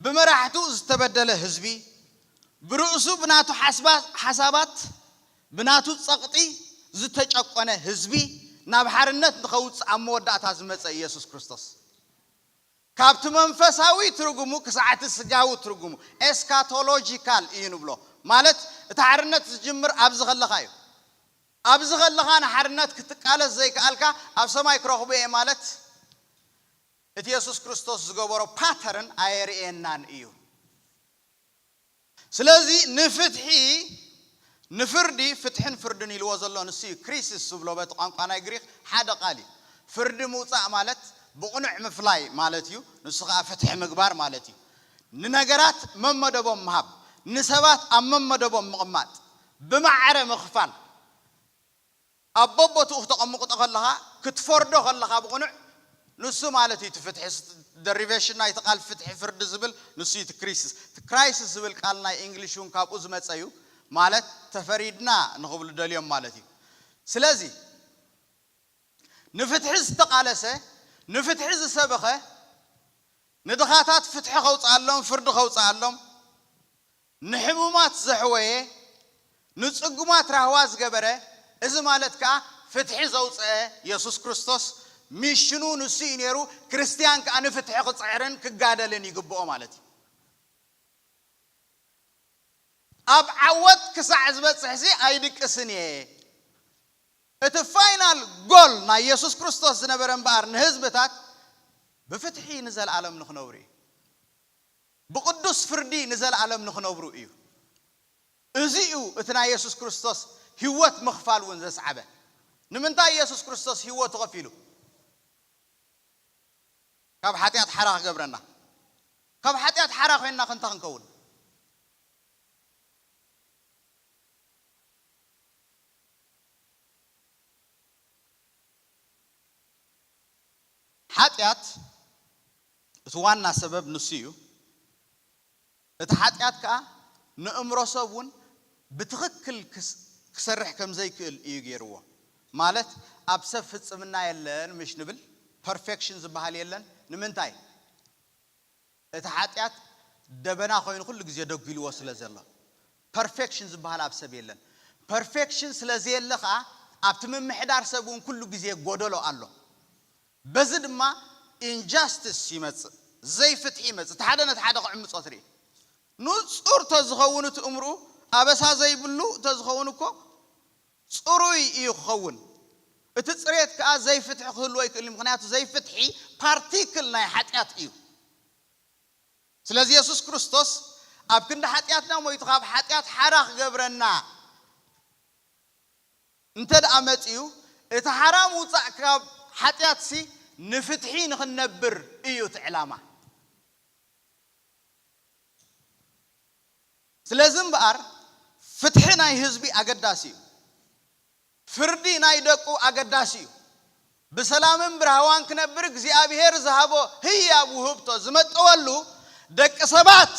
ብመራሕቱ ዝተበደለ ህዝቢ፣ ብርእሱ ብናቱ ሓሳባት ብናቱ ጸቕጢ ዝተጨቆነ ህዝቢ ናብ ሓርነት ንኸውጽእ ኣብ መወዳእታ ዝመጸ ኢየሱስ ክርስቶስ፣ ካብቲ መንፈሳዊ ትርጉሙ ክሳዕ'ቲ ስጋዊ ትርጉሙ፣ ኤስካቶሎጂካል እዩ ንብሎ። ማለት እቲ ሓርነት ዝጅምር ኣብዚ ከለኻ እዩ። ኣብዚ ከለኻ ንሓርነት ክትቃለስ ዘይከኣልካ ኣብ ሰማይ ክረኽቦ እየ ማለት እቲ የሱስ ክርስቶስ ዝገበሮ ፓተርን ኣየርእየናን እዩ። ስለዚ ንፍትሒ ንፍርዲ ፍትሕን ፍርድን ኢልዎ ዘሎ ንሱ እዩ። ክሪሲስ ዝብሎ በቲ ቋንቋ ናይ ግሪኽ ሓደ ቃል እዩ። ፍርዲ ምውጻእ ማለት ብቕኑዕ ምፍላይ ማለት እዩ፣ ንሱ ኸኣ ፍትሒ ምግባር ማለት እዩ። ንነገራት መመደቦም ምሃብ፣ ንሰባት ኣብ መመደቦም ምቕማጥ፣ ብማዕረ ምኽፋል። ኣብ በቦትኡ ክተቐምቕጦ ከለኻ ክትፈርዶ ከለኻ ብቕኑዕ ንሱ ማለት እዩ እቲ ፍትሒ ደሪቨሽን ናይቲ ቃል ፍትሒ ፍርዲ ዝብል ንሱ እዩ እቲ ክሪስስ እቲ ክራይስስ ዝብል ቃል ናይ ኢንግሊሽ እውን ካብኡ ዝመጸ እዩ ማለት ተፈሪድና ንኽብሉ ደልዮም ማለት እዩ ስለዚ ንፍትሒ ዝተቓለሰ ንፍትሒ ዝሰበኸ ንድኻታት ፍትሒ ከውጽኣሎም ፍርዲ ከውጽኣሎም ንሕሙማት ዘሕወየ፣ ንጽጉማት ራህዋ ዝገበረ፣ እዚ ማለት ከኣ ፍትሒ ዘውጸኣ የሱስ ክርስቶስ ሚሽኑ ንሱ እዩ ነይሩ፣ ክርስትያን ከኣ ንፍትሒ ክጽዕርን ክጋደልን ይግብኦ ማለት እዩ። ኣብ ዓወት ክሳዕ ዝበጽሕሲ ኣይድቅስን እየ። እቲ ፋይናል ጎል ናይ የሱስ ክርስቶስ ዝነበረ እምበኣር ንህዝብታት ብፍትሒ ንዘልኣለም ንኽነብሩ እዩ። ብቕዱስ ፍርዲ ንዘለኣለም ንኽነብሩ እዩ። እዚ እዩ እቲ ናይ የሱስ ክርስቶስ ህይወት ምኽፋል እውን ዘስዓበ። ንምንታይ እዩ የሱስ ክርስቶስ ህይወቱ ኸፊሉ? ካብ ሓጢኣት ሓራ ኽገብረና። ካብ ሓጢኣት ሓራ ዄንናኸ እንታይ ክንከውን? ሓጢኣት እቲ ዋና ሰበብ ንሱ እዩ፣ እቲ ሓጢኣት ከኣ ንእምሮ ሰብ እውን ብትኽክል ክሰርሕ ከም ዘይክእል እዩ ገይርዎ። ማለት ኣብ ሰብ ፍጽምና የለን ምሽ ንብል፣ ፐርፌክሽን ዝበሃል የለን። ንምንታይ? እቲ ሓጢኣት ደበና ኮይኑ ኩሉ ግዜ ደጒልዎ ስለ ዘሎ። ፐርፌክሽን ዝበሃል ኣብ ሰብ የለን። ፐርፌክሽን ስለ ዘየለ ከኣ ኣብቲ ምምሕዳር ሰብ እውን ኩሉ ግዜ ጎደሎ ኣሎ። በዚ ድማ ኢንጃስትስ ይመጽእ፣ ዘይፍትሒ ይመጽእ፣ እቲ ሓደ ነቲ ሓደ ክዕምጾ ትርኢ። ንጹር ተዝኸውን እቲ እምርኡ፣ ኣበሳ ዘይብሉ እንተዝኸውን እኮ ጽሩይ እዩ ክኸውን። እቲ ጽሬት ከኣ ዘይፍትሒ ክህልዎ ኣይክእልን እዩ፣ ምኽንያቱ ዘይፍትሒ ፓርቲክል ናይ ሓጢኣት እዩ። ስለዚ የሱስ ክርስቶስ ኣብ ክንዲ ሓጢኣትና ሞይቱ ካብ ሓጢኣት ሓራ ክገብረና፣ እንተድኣ መጺኡ እቲ ሓራ ምውጻእ ካብ ሓጢኣትሲ ንፍትሒ ንኽንነብር እዩ እቲ ዕላማ። ስለዚ እምበኣር ፍትሒ ናይ ህዝቢ ኣገዳሲ እዩ። ፍርዲ ናይ ደቁ ኣገዳሲ እዩ። ብሰላምን ብራህዋን ክነብር እግዚኣብሄር ዝሃቦ ህያብ ውህብቶ ዝመጠወሉ ደቂ ሰባት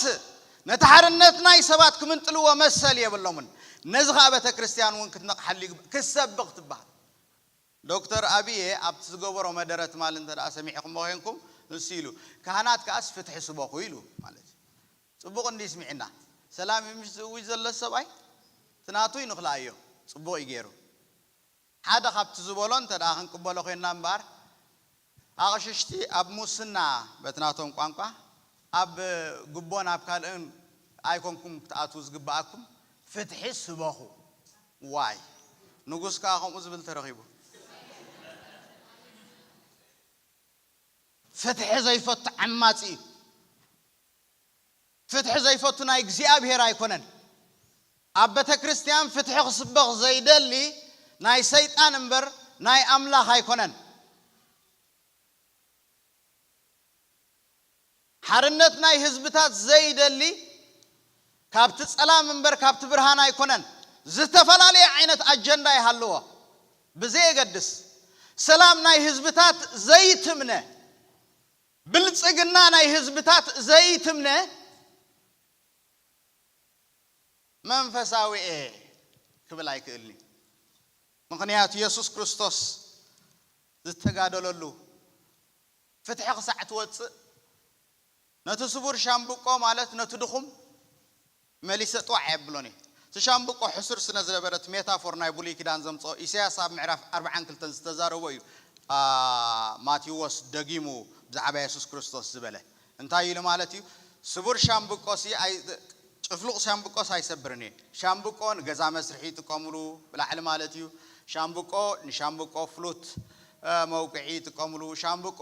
ነቲ ሓርነት ናይ ሰባት ክምንጥልዎ መሰል የብሎምን ነዚ ከኣ ቤተክርስትያን ውን ክትነቕሓሉ ይግባእ ክትሰብኽ ትበሃል ዶክተር ኣብየ ኣብቲ ዝገበሮ መደረ ትማሊ እንተ ሰሚዕኹሞ ኮይንኩም ንሱ ኢሉ ካህናት ከኣስ ፍትሒ ስበኹ ኢሉ ማለት እዩ ጽቡቕ እንድዩ ስሚዕና ሰላም እዩ ምሽ ዝእውጅ ዘሎ ሰብኣይ እቲ ናቱ ይንኽልኣዮ ጽቡቕ እዩ ጌሩ ሓደ ካብቲ ዝበሎ እንተ ክንቅበሎ ኮይንና እምበኣር፣ ኣቕሽሽቲ ኣብ ሙስና በቲ ናቶም ቋንቋ፣ ኣብ ጉቦን ኣብ ካልእን ኣይኮንኩም ክትኣትዉ ዝግበኣኩም፣ ፍትሒ ስበኹ። ዋይ! ንጉስ ከኣ ከምኡ ዝብል ተረኺቡ። ፍትሒ ዘይፈቱ ዓማጺ እዩ። ፍትሒ ዘይፈቱ ናይ እግዚኣብሔር ኣይኮነን ኣብ በተክርስትያን ፍትሒ ክስበኽ ዘይደሊ ናይ ሰይጣን እምበር ናይ ኣምላኽ ኣይኮነን። ሓርነት ናይ ህዝብታት ዘይደሊ ካብቲ ጸላም እምበር ካብቲ ብርሃን ኣይኮነን ዝተፈላለየ ዓይነት ኣጀንዳ ይሃልዎ ብዘየገድስ ሰላም ናይ ህዝብታት ዘይትምነ ብልጽግና ናይ ህዝብታት ዘይትምነ መንፈሳዊ'የ ክብል ኣይክእልን'ዩ። ምኽንያቱ የሱስ ክርስቶስ ዝተጋደለሉ ፍትሒ ክሳዕ ትወጽእ ነቲ ስቡር ሻምብቆ ማለት ነቲ ድኹም፣ መሊሰ ጥዋዕ ኣየብሎን እየ። እቲ ሻምብቆ ሕሱር ስነ ዝነበረ እቲ ሜታፎር ናይ ብሉይ ኪዳን ዘምጽኦ ኢሰያስ ኣብ ምዕራፍ ኣርብዓን ክልተን ዝተዛረቦ እዩ ማቲዎስ ደጊሙ ብዛዕባ የሱስ ክርስቶስ ዝበለ እንታይ ኢሉ ማለት እዩ ስቡር ሻምብቆሲ ኣይ ጭፍሉቅ ሻምብቆስ ኣይሰብርን እየ ሻምብቆ ንገዛ መስርሒ ይጥቀምሉ ብላዕሊ ማለት እዩ ሻምብቆ ንሻምብቆ ፍሉት መውቅዒ ይጥቀምሉ፣ ሻምብቆ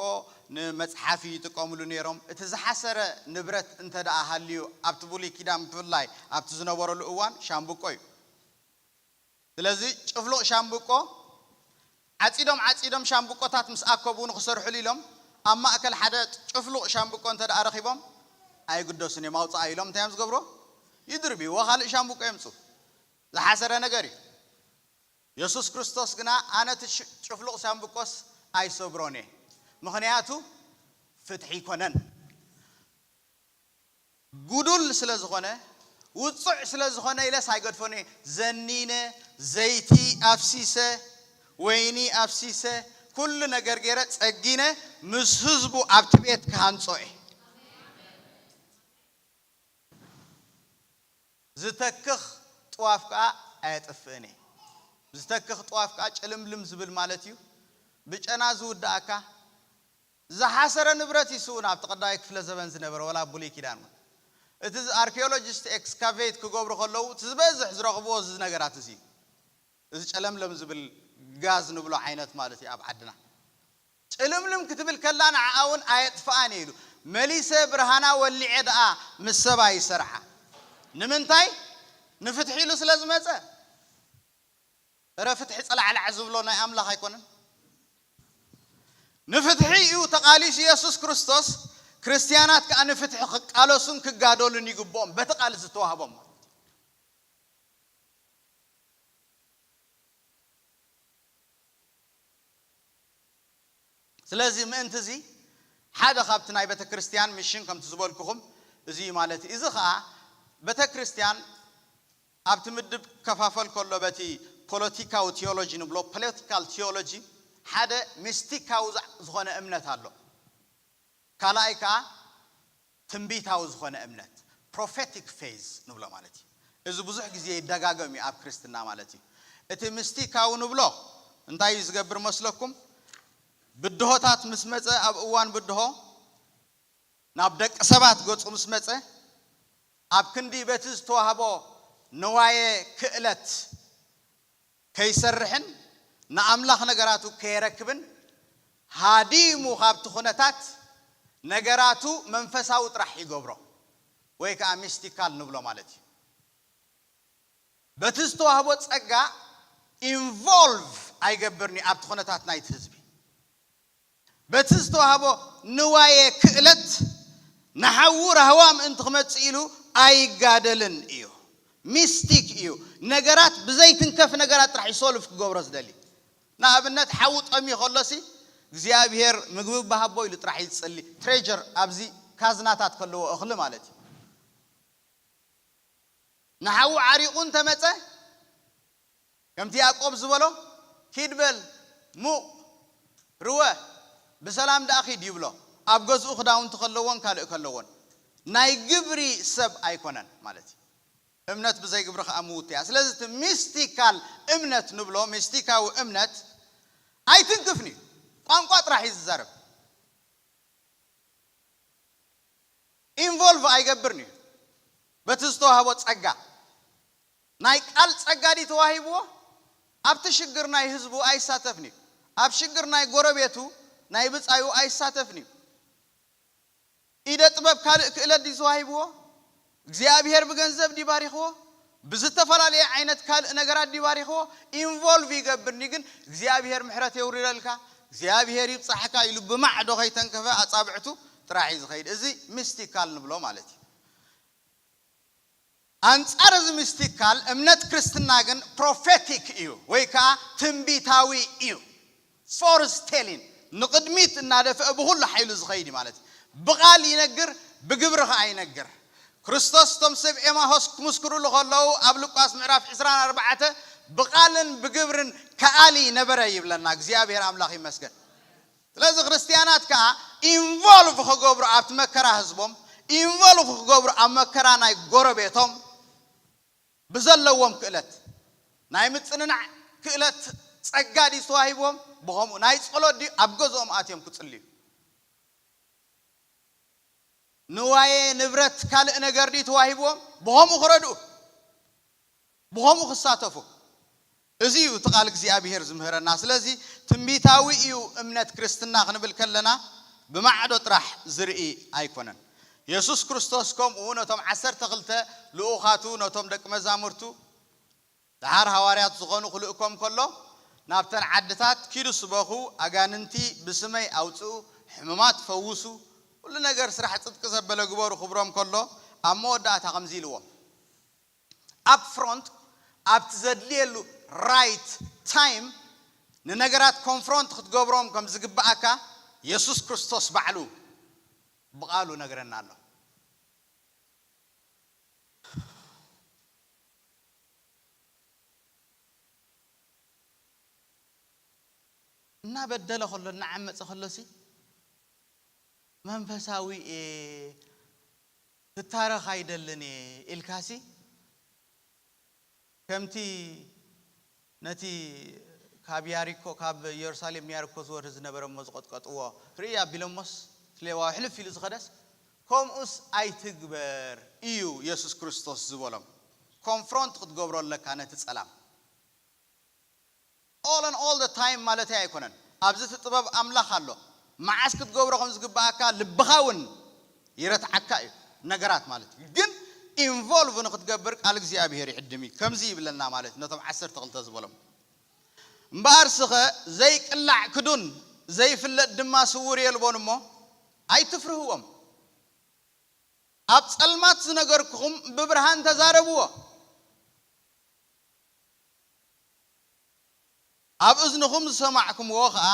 ንመጽሓፊ ይጥቀምሉ ነይሮም። እቲ ዝሓሰረ ንብረት እንተድኣ ሃልዩ ኣብቲ ብሉይ ኪዳን ብፍላይ ኣብቲ ዝነበረሉ እዋን ሻምብቆ እዩ። ስለዚ ጭፍሉቕ ሻምብቆ ዓጺዶም ዓጺዶም ሻምብቆታት ምስ ኣከቡ ንኽሰርሕሉ ኢሎም ኣብ ማእከል ሓደ ጭፍሉቕ ሻምብቆ እንተድኣ ረኺቦም ኣይግደሱን እዮም ኣውጽኣ ኢሎም እንታይ እዮም ዝገብርዎ ይድርብይዎ ካልእ ሻምብቆ የምጽኡ ዝሓሰረ ነገር እዩ። የሱስ ክርስቶስ ግና ኣነ እቲ ጭፍሉቕ ሻምብቆስ ኣይሰብሮን እየ፣ ምኽንያቱ ፍትሒ ኣይኰነን፣ ጕዱል ስለ ዝዀነ፣ ውጹዕ ስለ ዝዀነ ኢለስ ኣይገድፎን እየ፣ ዘኒነ፣ ዘይቲ ኣፍሲሰ፣ ወይኒ ኣፍሲሰ፣ ኵሉ ነገር ገይረ ጸጊነ ምስ ህዝቡ ኣብቲ ቤት ክሃንጾ እየ። ዝተክኽ ጥዋፍ ከኣ ኣየጥፍእን እየ። ዝተክኽ ጥዋፍ ከኣ ጭልምልም ዝብል ማለት እዩ። ብጨና ዝውዳእ እካ ዝሓሰረ ንብረት እዩ ስእውን ኣብቲ ቀዳማይ ክፍለ ዘበን ዝነበረ ወላ ኣብ ብሉይ ኪዳን እውን እቲ ኣርኪዮሎጂስት ኤክስካቬት ክገብሩ ከለዉ እቲ ዝበዝሕ ዝረኽብዎ እዚ ነገራት እዚ እዩ። እዚ ጨለምለም ዝብል ጋዝ ንብሎ ዓይነት ማለት እዩ ኣብ ዓድና። ጭልምልም ክትብል ከላ ንዓኣ ውን ኣየጥፍኣን እየ ኢሉ። መሊሰ ብርሃና ወሊዐ ደኣ ምስ ሰባ ይሰርሓ። ንምንታይ? ንፍትሒ ኢሉ ስለ ዝመጸ። እረ ፍትሒ ጸላዕላዕ ዝብሎ ናይ ኣምላኽ ኣይኮነን። ንፍትሒ እዩ ተቓሊሱ የሱስ ክርስቶስ፣ ክርስትያናት ከኣ ንፍትሒ ክቃለሱን ክጋደሉን ይግብኦም፣ በቲ ቃል ዝተዋህቦም ማለት እዩ። ስለዚ ምእንቲ እዚ ሓደ ካብቲ ናይ ቤተክርስትያን ሚሽን ከምቲ ዝበልኩኹም እዚ እዩ ማለት እዩ። እዚ ከኣ ቤተክርስትያን ኣብቲ ምድብ ክከፋፈል ከሎ በቲ ፖለቲካዊ ቲዮሎጂ ንብሎ፣ Political Theology፣ ሓደ ሚስቲካዊ ዝኾነ እምነት ኣሎ። ካልኣይ ከኣ ትንቢታዊ ዝኾነ እምነት፣ Prophetic Faith፣ ንብሎ ማለት እዩ። እዚ ብዙሕ ግዜ ይደጋገም እዩ ኣብ ክርስትና ማለት እዩ። እቲ ምስቲካዊ ንብሎ እንታይ እዩ ዝገብር መስለኩም? ብድሆታት ምስ መጸ ኣብ እዋን ብድሆ ናብ ደቂ ሰባት ገጹ ምስ መጸ ኣብ ክንዲ በቲ ዝተዋህቦ ንዋየ ክእለት ከይሰርሕን ንኣምላኽ ነገራቱ ከየረክብን ሃዲሙ ካብቲ ኩነታት ነገራቱ መንፈሳዊ ጥራሕ ይገብሮ ወይ ከኣ ሚስቲካል ንብሎ ማለት እዩ። በቲ ዝተዋህቦ ጸጋ ኢንቮልቭ ኣይገብርን እዩ ኣብቲ ኩነታት ናይቲ ህዝቢ። በቲ ዝተዋህቦ ንዋየ ክእለት ንሓዉ ራህዋ ምእንቲ ክመጽእ ኢሉ ኣይጋደልን እዩ። ሚስቲክ እዩ። ነገራት ብዘይትንከፍ ነገራት ጥራሕ እዩ ሶልቭ ክገብሮ ዝደሊ። ንኣብነት ሓዉ ጠምዩ ከሎሲ እግዚኣብሄር ምግቢ እባ ሃቦ ኢሉ ጥራሕ እዩ ዝጽሊ። ትሬዠር ኣብዚ ካዝናታት ከለዎ እኽሊ ማለት እዩ። ንሓዉ ዓሪቑ እንተመጸ ከምቲ ያእቆብ ዝበሎ ኪድ በል ሙቕ ርወ ብሰላም ደኣ ኪድ ይብሎ ኣብ ገዝኡ ክዳውንቲ ከለዎን ካልእ ከለዎን ናይ ግብሪ ሰብ ኣይኮነን ማለት እዩ እምነት ብዘይ ግብሪ ከኣ ምውቲ እያ ስለዚ እቲ ሚስቲካል እምነት ንብሎ ሚስቲካዊ እምነት ኣይትንክፍን እዩ ቋንቋ ጥራሕ እዩ ዝዛረብ ኢንቮልቭ ኣይገብርን እዩ በቲ ዝተዋህቦ ጸጋ ናይ ቃል ጸጋ ድዩ ተዋሂብዎ ኣብቲ ሽግር ናይ ህዝቡ ኣይሳተፍን እዩ ኣብ ሽግር ናይ ጎረቤቱ ናይ ብጻዩ ኣይሳተፍን እዩ ኢደ ጥበብ ካልእ ክእለት ድዩ ተዋሂብዎ እግዚኣብሄር ብገንዘብ ድዩ ባሪኽዎ ብዝተፈላለየ ዓይነት ካልእ ነገራት ድዩ ባሪኽዎ ኢንቮልቭ ይገብር እንድዩ ግን እግዚኣብሄር ምሕረት የውርደልካ እግዚኣብሄር ይብጻሕካ ኢሉ ብማዕዶ ከይተንከፈ ኣጻብዕቱ ጥራሕ እዩ ዝኸይድ እዚ ሚስቲካል ንብሎ ማለት እዩ ኣንጻር እዚ ሚስቲካል እምነት ክርስትና ግን ፕሮፌቲክ እዩ ወይ ከኣ ትንቢታዊ እዩ። ፎርዝ ቴሊን ንቕድሚት እናደፍአ ብኹሉ ሓይሉ ዝኸይድ እዩ ማለት እዩ። ብቓል ይነግር ብግብሪ ከኣ ይነግር። ክርስቶስ እቶም ሰብ ኤማሆስ ክምስክሩሉ ከለዉ ኣብ ሉቃስ ምዕራፍ ዕስራን ኣርባዕተ ብቓልን ብግብርን ከኣሊ ነበረ ይብለና። እግዚኣብሔር ኣምላኽ ይመስገን። ስለዚ ክርስትያናት ከኣ ኢንቮልቭ ክገብሩ ኣብቲ መከራ ህዝቦም ኢንቮልቭ ክገብሩ ኣብ መከራ ናይ ጎረቤቶም ብዘለዎም ክእለት ናይ ምጽንናዕ ክእለት ጸጋ ድዩ ተዋሂብዎም ብከምኡ ናይ ጸሎት ድዩ ኣብ ገዝኦም ኣትዮም ክጽልዩ ንዋየ ንብረት ካልእ ነገር ድዩ ተዋሂብዎም ብከምኡ ክረድኡ ብኸምኡ ክሳተፉ። እዚ እዩ እቲ ቃል እግዚኣብሄር ዝምህረና። ስለዚ ትንቢታዊ እዩ እምነት ክርስትና ክንብል ከለና ብማዕዶ ጥራሕ ዝርኢ ኣይኮነን። የሱስ ክርስቶስ ከምኡ ነቶም ዓሰርተ ክልተ ልኡኻቱ ነቶም ደቂ መዛሙርቱ ደሓር ሃዋርያት ዝኾኑ ክልእኮም ከሎ ናብተን ዓድታት ኪዱ ስበኹ ኣጋንንቲ ብስመይ ኣውጽኡ ሕሙማት ፈውሱ ኩሉ ነገር ስራሕ ጽድቂ ዘበለ ግበሩ ክብሮም ከሎ ኣብ መወዳእታ ከምዚ ኢልዎም ኣብ ፍሮንት ኣብቲ ዘድልየሉ Right Time ንነገራት ኮንፍሮንት ክትገብሮም ከም ዝግብኣካ የሱስ ክርስቶስ ባዕሉ ብቓሉ ነግረና ኣሎ። እናበደለ ከሎ እናዓመጸ ከሎሲ መንፈሳዊ እየ ክታረኽ ኣይደልን እየ ኢልካሲ ከምቲ ነቲ ካብ ያሪኮ ካብ የሩሳሌም ንያሪኮ ዝወርድ ዝነበረ እሞ ዝቐጥቀጥዎ ርእይ ኣቢሎሞስ እቲ ሌዋዊ ሕልፍ ኢሉ ዝኸደስ ከምኡስ ኣይትግበር እዩ የሱስ ክርስቶስ ዝበሎም ኮንፍሮንት ክትገብሮ ኣለካ ነቲ ጸላም። All and all the time ማለተይ ኣይኮነን ኣብዚ እቲ ጥበብ ኣምላኽ ኣሎ መዓስ ክትገብሮ ከም ዝግበኣካ ልብኻ ውን ይረትዓካ እዩ ነገራት ማለት እዩ ግን involve ንኽትገብር ቃል እግዚኣብሄር ይዕድም እዩ ከምዚ ይብለና ማለት እዩ ነቶም ዓሰርተ ክልተ ዝበሎም እምበኣርስኸ ዘይቅላዕ ክዱን ዘይፍለጥ ድማ ስዉር የልቦን እሞ ኣይትፍርህዎም ኣብ ጸልማት ዝነገርኩኹም ብብርሃን ተዛረብዎ። ኣብ እዝንኹም ዝሰማዕኩምዎ ኸኣ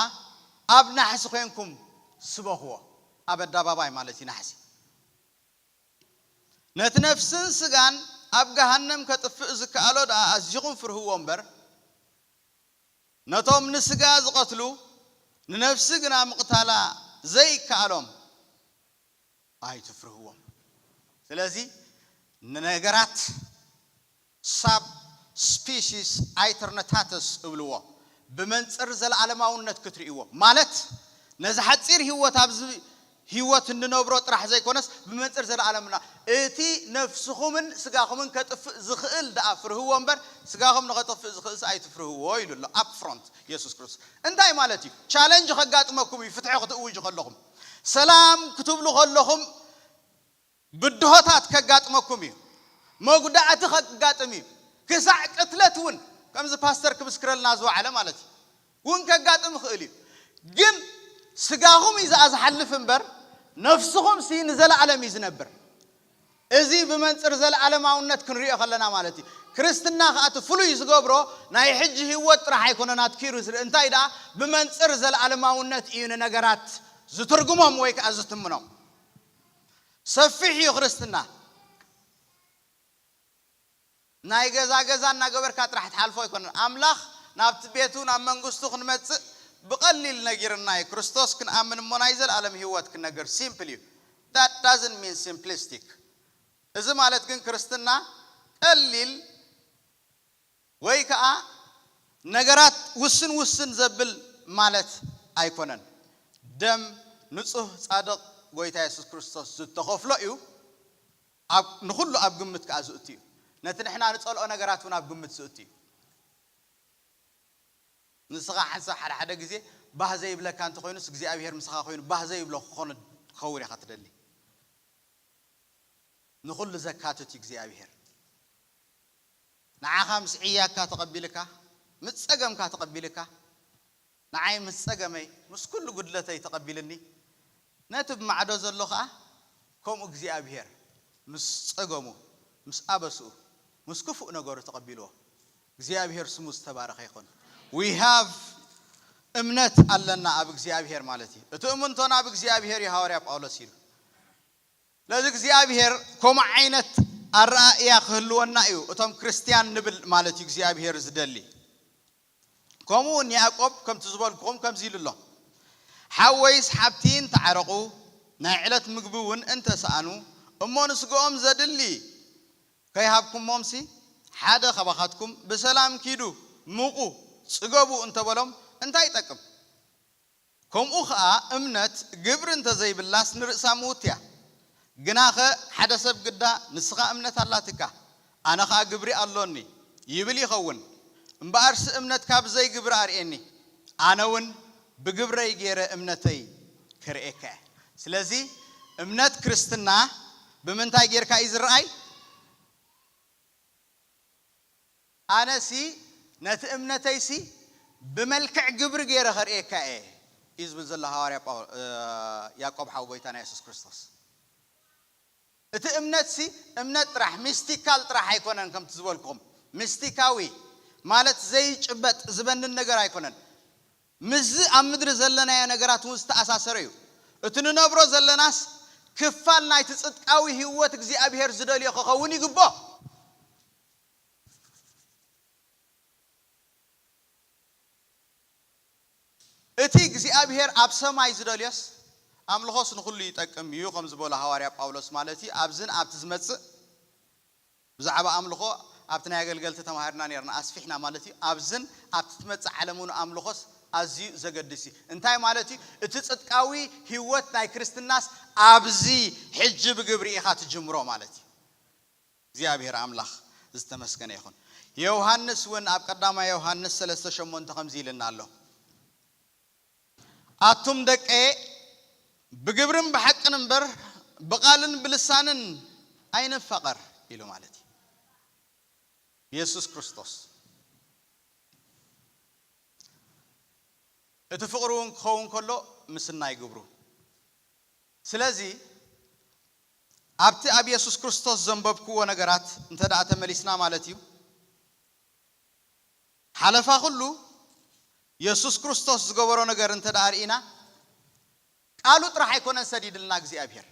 ኣብ ናሕሲ ዄንኩም ስበኽዎ፣ ኣብ ኣዳባባይ ማለት እዩ ናሕሲ፣ ነቲ ነፍስን ስጋን ኣብ ገሃነም ከጥፍእ ዝከኣሎ ደኣ ኣዚኹም ፍርህዎ እምበር፣ ነቶም ንስጋ ዝቐትሉ ንነፍሲ ግና ምቕታላ ዘይከኣሎም፣ ኣይትፍርህዎም ስለዚ ንነገራት ሳብ ስፒሲስ ኣይተርነታተስ እብልዎ ብመንጽር ዘለኣለማውነት ክትርእይዎ ማለት ነዚ ሓጺር ሂወት ኣብዚ ሂወት እንነብሮ ጥራሕ ዘይኮነስ ብመንጽር ዘለኣለምና እቲ ነፍስኹምን ስጋኹምን ከጥፍእ ዝኽእል ደኣ ፍርህዎ እምበር ስጋኹም ንኸጠፍእ ዝኽእልሲ ኣይትፍርህዎ ኢሉ ኣሎ up front የሱስ ክርስቶስ እንታይ ማለት እዩ ቻለንጅ ከጋጥመኩም እዩ ፍትሒ ክትእውጁ ከለኹም ሰላም ክትብሉ ከለኹም ብድሆታት ከጋጥመኩም እዩ፣ መጉዳእቲ ከጋጥም እዩ፣ ክሳዕ ቅትለት እውን ከምዚ ፓስተር ክምስክረልና ዝወዓለ ማለት እዩ እውን ከጋጥም ይኽእል እዩ፣ ግን ስጋኹም እዩ ዝኣ ዝሓልፍ እምበር ነፍስኹምሲ ንዘለኣለም እዩ ዝነብር። እዚ ብመንጽር ዘለኣለማውነት ክንሪኦ ከለና ማለት እዩ። ክርስትና ከኣ እቲ ፍሉይ ዝገብሮ ናይ ሕጂ ህይወት ጥራሕ ኣይኮነን ኣትኪሩ ዝርኢ፣ እንታይ ደኣ ብመንጽር ዘለኣለማውነት እዩ ንነገራት ዝትርጉሞም ወይ ከኣ ዝትምኖም። ሰፊሕ እዩ ክርስትና። ናይ ገዛ ገዛ እናገበርካ ጥራሕ ትሓልፎ ኣይኮነን። ኣምላኽ ናብቲ ቤቱ ናብ መንግስቱ ክንመጽእ ብቀሊል ነጊርና እዩ። ክርስቶስ ክንኣምን እሞ ናይ ዘልኣለም ሂወት ክነግር ሲምፕል እዩ። That doesn't mean simplistic እዚ ማለት ግን ክርስትና ቀሊል ወይ ከኣ ነገራት ውስን ውስን ዘብል ማለት ኣይኮነን። ደም ንጹህ ጻድቕ ጎይታ የሱስ ክርስቶስ ዝተኸፍሎ እዩ። ኣብ ንኹሉ ኣብ ግምት ከኣ ዝእቱ እዩ። ነቲ ንሕና ንጸልኦ ነገራት እውን ኣብ ግምት ዝእቱ እዩ። ንስኻ ሓንሳብ ሓደ ሓደ ግዜ ባህ ዘይብለካ እንተ ኾይኑስ እግዚኣብሄር ምሳኻ ኮይኑ ባህ ዘይብሎ ክኾን ክኸውን ኢኻ ትደሊ። ንኹሉ ዘካትት እዩ እግዚኣብሄር። ንዓኻ ምስ ዕያካ ተቐቢልካ ምስ ጸገምካ ተቐቢልካ ንዓይ ምስ ጸገመይ ምስ ኩሉ ጉድለተይ ተቐቢልኒ ነቲ ብ ማዕዶ ዘሎ ከኣ ከምኡ እግዚኣብሄር ምስ ጸገሙ ምስ ኣበስኡ ምስ ክፉእ ነገሩ ተቐቢልዎ እግዚኣብሄር ስሙ ዝተባረኸ ይኹን we have እምነት ኣለና ኣብ እግዚኣብሄር ማለት እዩ እቲ እምንቶና ኣብ እግዚኣብሄር እዩ ሃዋርያ ጳውሎስ ኢሉ ስለዚ እግዚኣብሄር ከምኡ ዓይነት ኣረኣእያ ክህልወና እዩ እቶም ክርስትያን ንብል ማለት እዩ እግዚኣብሄር ዝደሊ። ከምኡውን ያእቆብ ከምቲ ዝበልኩኹም ከምዚ ኢሉ ኣሎ፣ ሓወይስ ሓብቲን ተዓረቑ፣ ናይ ዕለት ምግቢውን እንተ ሰኣኑ፣ እሞ ንስጋኦም ዘድሊ ከይሃብኩሞምሲ፣ ሓደ ኻባኻትኩም፣ ብሰላም ኪዱ፣ ምቑ፣ ጽገቡ እንተ በሎም፣ እንታይ ይጠቅም? ከምኡ ኸኣ እምነት ግብሪ እንተ ዘይብላስ ንርእሳ ምውት'ያ። ግናኸ ሓደ ሰብ ግዳ ንስኻ እምነት ኣላትካ፣ ኣነ ኸኣ ግብሪ ኣሎኒ፣ ይብል ይኸውን። እምበኣርሲ እምነትካ ብዘይ ግብሪ ኣርእየኒ፣ ኣነውን ብግብረይ ገይረ እምነተይ ክርእየካ እየ። ስለዚ እምነት ክርስትና ብምንታይ ገይርካ እዩ ዝርኣይ? ኣነሲ ነቲ እምነተይሲ ብመልክዕ ግብሪ ገይረ ከርእየካ እየ እዩ ዝብል ዘሎ ሃዋርያ ያእቆብ ሓው ጎይታና የሱስ ክርስቶስ። እቲ እምነትሲ እምነት ጥራሕ ሚስቲካል ጥራሕ ኣይኮነን ከምቲ ዝበልኩኹም ሚስቲካዊ ማለት ዘይጭበጥ ዝበንን ነገር ኣይኮነን ምስዚ ኣብ ምድሪ ዘለናዮ ነገራት እውን ዝተኣሳሰረ እዩ። እቲ ንነብሮ ዘለናስ ክፋል ናይቲ ጽድቃዊ ህይወት እግዚኣብሄር ዝደልዮ ክኸውን ይግብኦ። እቲ እግዚኣብሄር ኣብ ሰማይ ዝደልዮስ ኣምልኾስ ንኹሉ ይጠቅም እዩ ከም ዝበሎ ሃዋርያ ጳውሎስ ማለት እዩ ኣብዝን ኣብቲ ዝመጽእ ብዛዕባ ኣምልኾ ኣብቲ ናይ ኣገልገልቲ ተማሂርና ኔርና ኣስፊሕና ማለት እዩ ኣብዝን ኣብቲ ትመጽእ ዓለምውን ኣምልኾስ ኣዝዩ ዘገድስ እዩ እንታይ ማለት እዩ እቲ ጽድቃዊ ሂወት ናይ ክርስትናስ ኣብዚ ሕጂ ብግብሪ ኢኻ ትጅምሮ ማለት እዩ እግዚኣብሄር ኣምላኽ ዝተመስገነ ይኹን ዮውሃንስ ውን ኣብ ቀዳማይ ዮውሃንስ ሰለስተ ሸሞንተ ከምዚ ኢልና ኣሎ። ኣቱም ደቀየ፣ ብግብርን ብሓቅን እምበር፣ ብቓልን ብልሳንን ኣይንፋቐር ኢሉ ማለት እዩ። የሱስ ክርስቶስ እቲ ፍቕሪ እውን ክኸውን ከሎ ምስናይ ግብሩ። ስለዚ ኣብቲ ኣብ የሱስ ክርስቶስ ዘንበብክዎ ነገራት እንተድኣ ተመሊስና ማለት እዩ፣ ሓለፋ ኹሉ የሱስ ክርስቶስ ዝገበሮ ነገር እንተ ደኣ ርኢና ቃሉ ጥራሕ ኣይኮነን ሰዲድልና እግዚኣብሄር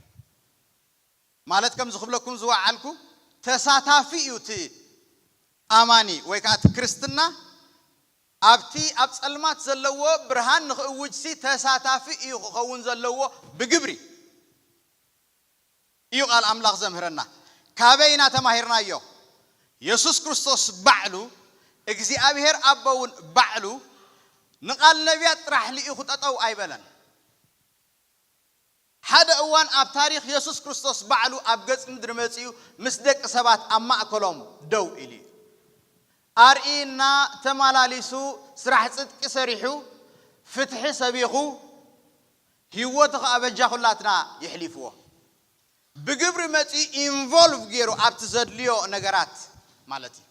ማለት ከምዚ ክብለኩም ዝወዓልኩ ተሳታፊ እዩ እቲ ኣማኒ ወይ ከኣ እቲ ክርስትና ኣብቲ ኣብ ጸልማት ዘለዎ ብርሃን ንኽእውጅሲ ተሳታፊ እዩ ክኸውን ዘለዎ ብግብሪ። እዩ ቃል ኣምላኽ ዘምህረና። ካበይ ኢና ተማሂርናዮ? የሱስ ክርስቶስ ባዕሉ፣ እግዚኣብሄር ኣቦ'ውን ባዕሉ ንቓል ነብያት ጥራሕ ልኢኹ ጠጠው ኣይበለን። ሓደ እዋን ኣብ ታሪኽ የሱስ ክርስቶስ ባዕሉ ኣብ ገጽ ምድሪ መጺኡ ምስ ደቂ ሰባት ኣብ ማእከሎም ደው ኢሉ እዩ። ኣርእይና፣ ተማላሊሱ፣ ስራሕ ጽድቂ ሰሪሑ፣ ፍትሒ ሰቢኹ፣ ሂወቱ ከኣ በጃ ኩላትና የሕሊፍዎ ብግብሪ መጺኡ ኢንቮልቭ ጌሩ ኣብቲ ዘድልዮ ነገራት ማለት ኢዩ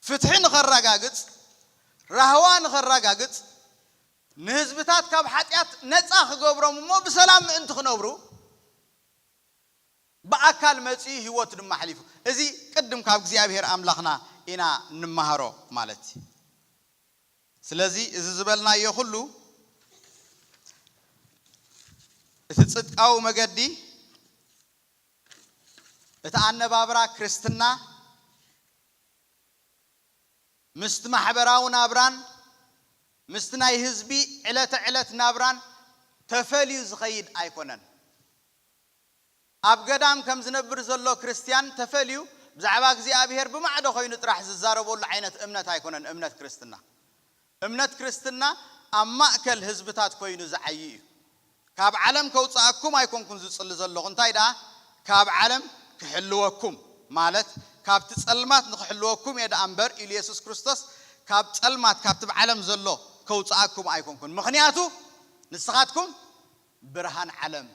ፍትሒ ንከራጋግጽ ራህዋ ንከራጋግጽ ንህዝብታት ካብ ሓጥያት ነጻ ክገብሮም እሞ ብሰላም ምእንቲ ክነብሩ ብኣካል መጺኡ ሂወቱ ድማ ኣሕሊፉ እዚ ቅድም ካብ እግዚኣብሄር ኣምላኽና ኢና ንማሃሮ ማለት ኢዩ። ስለዚ እዚ ዝበልናዮ ኩሉ እቲ ጽድቃዊ መገዲ እቲ ኣነባብራ ክርስትና ምስቲ ማሕበራዊ ናብራን ምስቲ ናይ ህዝቢ ዕለተ ዕለት ናብራን ተፈልዩ ዝኸይድ ኣይኮነን። ኣብ ገዳም ከም ዝነብር ዘሎ ክርስትያን ተፈልዩ ብዛዕባ እግዚኣብሔር ብማዕዶ ኮይኑ ጥራሕ ዝዛረበሉ ዓይነት እምነት ኣይኮነን እምነት ክርስትና። እምነት ክርስትና ኣብ ማእከል ህዝብታት ኮይኑ ዝዓዪ እዩ። ካብ ዓለም ከውጽኣኩም ኣይኮንኩን ዝጽሊ ዘለኹ እንታይ ደኣ ካብ ዓለም ክሕልወኩም ማለት ካብቲ ጸልማት ንኽሕልወኩም እየ ደኣ እምበር ኢሉ የሱስ ክርስቶስ ካብ ጸልማት ካብቲ ብ ዓለም ዘሎ ከውጽኣኩም ኣይኮንኩን ምኽንያቱ ንስኻትኩም ብርሃን ዓለም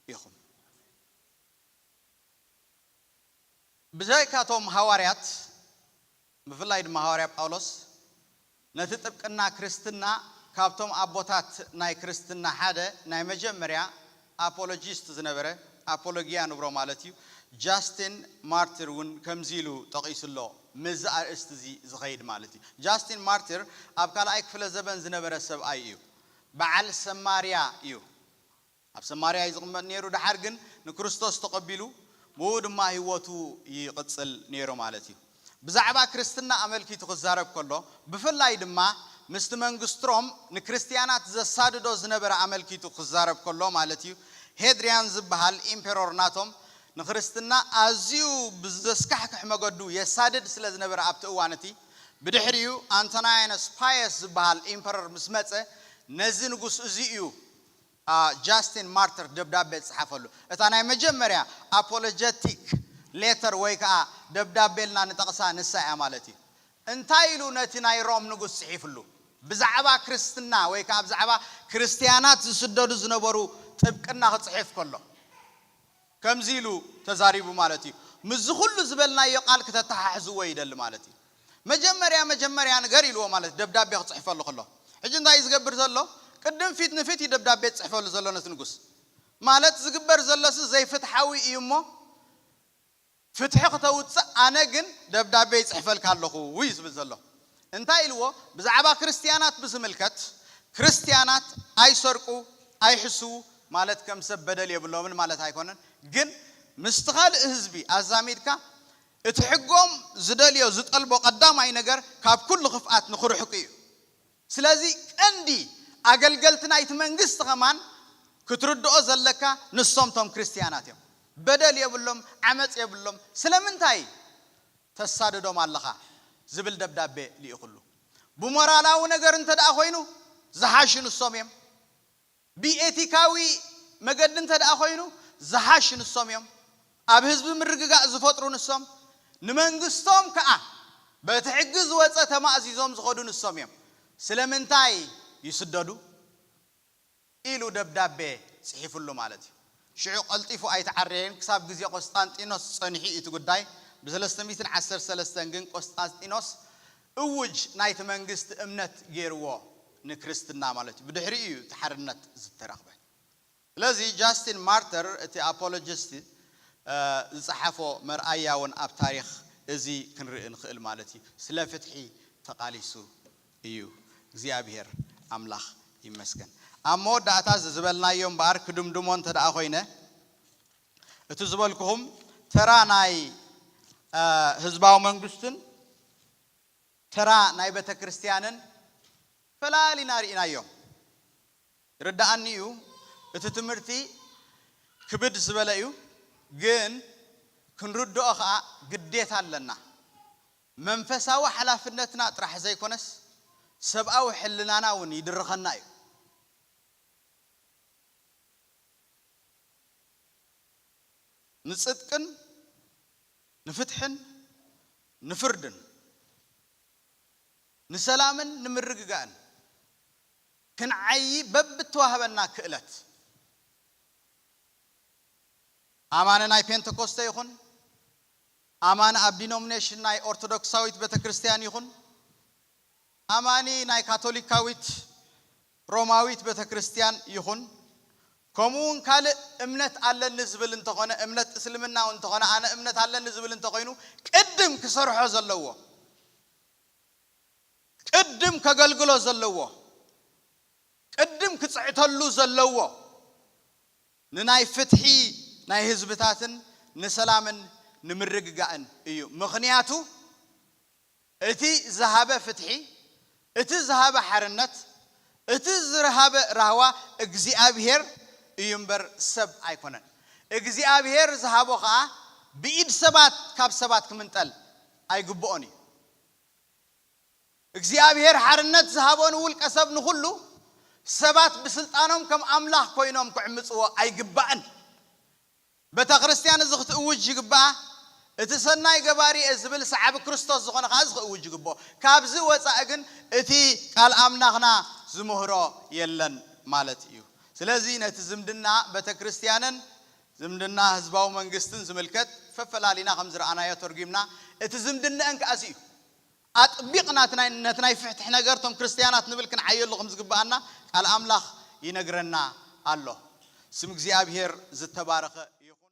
ኢኹም። ብዘይካ'ቶም ሃዋርያት፣ ብፍላይ ድማ ሃዋርያ ጳውሎስ፣ ነቲ ጥብቅና ክርስትና ካብ'ቶም ኣቦታት ናይ ክርስትና ሓደ ናይ መጀመርያ ኣፖሎጂስት ዝነበረ፣ ኣፖሎጊያ ንብሮ ማለት'ዩ፣ ጃስቲን ማርቲር እውን ከምዚ ኢሉ ጠቒሱ ኣሎ፣ ምስዚ ኣርእስቲ'ዚ ዝኸይድ ማለት'ዩ። ጃስቲን ማርቲር ኣብ ካልኣይ ክፍለ-ዘበን ዝነበረ ሰብኣይ'ዩ። በዓል ሰማርያ'ዩ። ኣብ ሰማርያ እዩ ዝቕመጥ ነይሩ፣ ደሓር ግን ንክርስቶስ ተቐቢሉ ብእኡ ድማ ህይወቱ ይቕጽል ነይሩ ማለት እዩ። ብዛዕባ ክርስትና ኣመልኪቱ ክዛረብ ከሎ፣ ብፍላይ ድማ ምስቲ መንግስት ሮም ንክርስትያናት ዘሳድዶ ዝነበረ ኣመልኪቱ ክዛረብ ከሎ ማለት እዩ፣ ሄድርያን ዝበሃል ኢምፐሮር ናቶም ንክርስትና ኣዝዩ ብዘስካሕክሕ መገዱ የሳድድ ስለ ዝነበረ ኣብቲ እዋን እቲ። ብድሕሪኡ ኣንቶናያኖስ ፓየስ ዝበሃል ኢምፐረር ምስ መጸ ነዚ ንጉስ እዚ እዩ። ጃስቲን ማርትር ደብዳቤ ዝጸሓፈሉ እታ ናይ መጀመርያ ኣፖሎጀቲክ ሌተር ወይ ከኣ ደብዳቤ ኢልና ንጠቕሳ ንሳ ኢያ ማለት ኢዩ። እንታይ ኢሉ ነቲ ናይ ሮም ንጉስ ጽሒፍሉ? ብዛዕባ ክርስትና ወይ ከኣ ብዛዕባ ክርስትያናት ዝስደዱ ዝነበሩ ጥብቅና ክጽሕፍ ከሎ። ከምዚ ኢሉ ተዛሪቡ ማለት እዩ። ምስዚ ኩሉ ዝበልናዮ ቃል ክተተሓሕዝዎ ይደሊ ማለት እዩ። መጀመርያ መጀመርያ ንገር ኢልዎ ማለት ደብዳቤ ክጽሕፈሉ ከሎ። ሕጂ እንታይ እዩ ዝገብር ዘሎ? ቅድም ፊት ንፊት እዩ ደብዳቤ ዝጽሕፈሉ ዘሎ ነቲ ንጉስ። ማለት ዝግበር ዘሎሲ ዘይፍትሓዊ እዩ እሞ፣ ፍትሒ ክተውጽእ ኣነ ግን ደብዳቤ ይጽሕፈልካ ኣለኹ እዩ ዝብል ዘሎ። እንታይ ኢልዎ ብዛዕባ ክርስትያናት ብዝምልከት ክርስትያናት ኣይሰርቁ ኣይሕስዉ ማለት ከም ሰብ በደል የብሎምን ማለት ኣይኮነን ግን ምስቲ ካልእ ህዝቢ ኣዛሚድካ እቲ ሕጎም ዝደልዮ ዝጠልቦ ቀዳማይ ነገር ካብ ኩሉ ክፍኣት ንኽርሕቁ እዩ። ስለዚ ቀንዲ ኣገልገልቲ ናይቲ መንግስቲ ከማን ክትርድኦ ዘለካ ንሶም ቶም ክርስትያናት እዮም በደል የብሎም ዓመጽ የብሎም ስለምንታይ ተሳድዶም ኣለኻ ዝብል ደብዳቤ ሊኢኹሉ ብሞራላዊ ነገር እንተ ኮይኑ ዝሓሹ ንሶም እዮም ብኤቲካዊ መገዲ እንተድኣ ኮይኑ ዝሓሽ ንሶም እዮም፣ ኣብ ህዝቢ ምርግጋእ ዝፈጥሩ ንሶም፣ ንመንግስቶም ከኣ በቲ ሕጊ ዝወጸ ተማእዚዞም ዝኸዱ ንሶም እዮም፣ ስለምንታይ ይስደዱ? ኢሉ ደብዳቤ ጽሒፍሉ ማለት እዩ። ሽዑ ቀልጢፉ ኣይተዓረየን፣ ክሳብ ግዜ ቆስጣንጢኖስ ጸኒሑ እዩ እቲ ጉዳይ፣ ብሰለስተ ሚእትን ዓሰርተ ሰለስተን ግን ቆስጣንጢኖስ እዉጅ ናይቲ መንግስቲ እምነት ጌርዎ ንክርስትና ማለት እዩ ብድሕሪኡ እዩ እቲ ሓርነት ዝተረኽበ ስለዚ ጃስቲን ማርተር እቲ ኣፖሎጂስት ዝጸሓፎ መርኣያ እዉን ኣብ ታሪኽ እዚ ክንርኢ ንኽእል ማለት እዩ ስለ ፍትሒ ተቓሊሱ እዩ እግዚኣብሄር ኣምላኽ ይመስገን ኣብ መወዳእታ እዚ ዝበልናዮ እምበኣር ክድምድሞ እንተደኣ ኮይነ እቲ ዝበልኩኹም ተራ ናይ ህዝባዊ መንግስትን ተራ ናይ ቤተክርስትያንን ፈላሊና ርኢናዮ። ይርደኣኒ እዩ እቲ ትምህርቲ ክብድ ዝበለ እዩ ግን ክንርድኦ ከኣ ግዴታ ኣለና። መንፈሳዊ ሓላፍነትና ጥራሕ ዘይኮነስ ሰብኣዊ ሕልናና እውን ይድርኸና እዩ። ንጽድቅን ንፍትሕን ንፍርድን ንሰላምን ንምርግጋእን ክንዓዪ በብእተዋህበና ክእለት ኣማኒ ናይ ፔንተኮስተ ይኹን ኣማኒ ኣብ ዲኖምኔሽን ናይ ኦርቶዶክሳዊት ቤተክርስትያን ይኹን ኣማኒ ናይ ካቶሊካዊት ሮማዊት ቤተክርስትያን ይኹን ከምኡ ውን ካልእ እምነት ኣለኒ ዝብል እንተኾነ እምነት እስልምና ውን እንተኾነ ኣነ እምነት ኣለኒ ዝብል እንተኾይኑ ቅድም ክሰርሖ ዘለዎ ቅድም ከገልግሎ ዘለዎ ቅድም ክጽዕተሉ ዘለዎ ንናይ ፍትሒ ናይ ህዝብታትን ንሰላምን ንምርግጋእን እዩ ምኽንያቱ እቲ ዝሃበ ፍትሒ፣ እቲ ዝሃበ ሓርነት፣ እቲ ዝርሃበ ራህዋ እግዚኣብሄር እዩ እምበር ሰብ ኣይኮነን። እግዚኣብሄር ዝሃቦ ከኣ ብኢድ ሰባት ካብ ሰባት ክምንጠል ኣይግብኦን እዩ። እግዚኣብሄር ሓርነት ዝሃቦ ንውልቀ ሰብ ንኹሉ፣ ሰባት ብስልጣኖም ከም ኣምላኽ ኮይኖም ክዕምጽዎ ኣይግባእን። ቤተክርስትያን እዚ ክትእውጅ ይግብኣ፣ እቲ ሰናይ ገባሪ እየ ዝብል ሰዓቢ ክርስቶስ ዝኾነ ከኣ እዚ ክእውጅ ይግብኦ። ካብዚ ወጻኢ ግን እቲ ቃል ኣምላኽና ዝምህሮ የለን ማለት እዩ። ስለዚ ነቲ ዝምድና ቤተክርስትያንን ዝምድና ህዝባዊ መንግስትን ዝምልከት ፈፈላሊና ከም ዝረኣናዮ ተርጒምና እቲ ዝምድነኣን ከኣ እዚ እዩ። ኣጥቢቕና እቲ ናይ ነቲ ናይ ፍሕትሕ ነገር እቶም ክርስትያናት ንብል ክንዓየሉ ከም ዝግብኣና ቃል ኣምላኽ ይነግረና ኣሎ። ስም እግዚኣብሄር ዝተባረኸ ይኹን።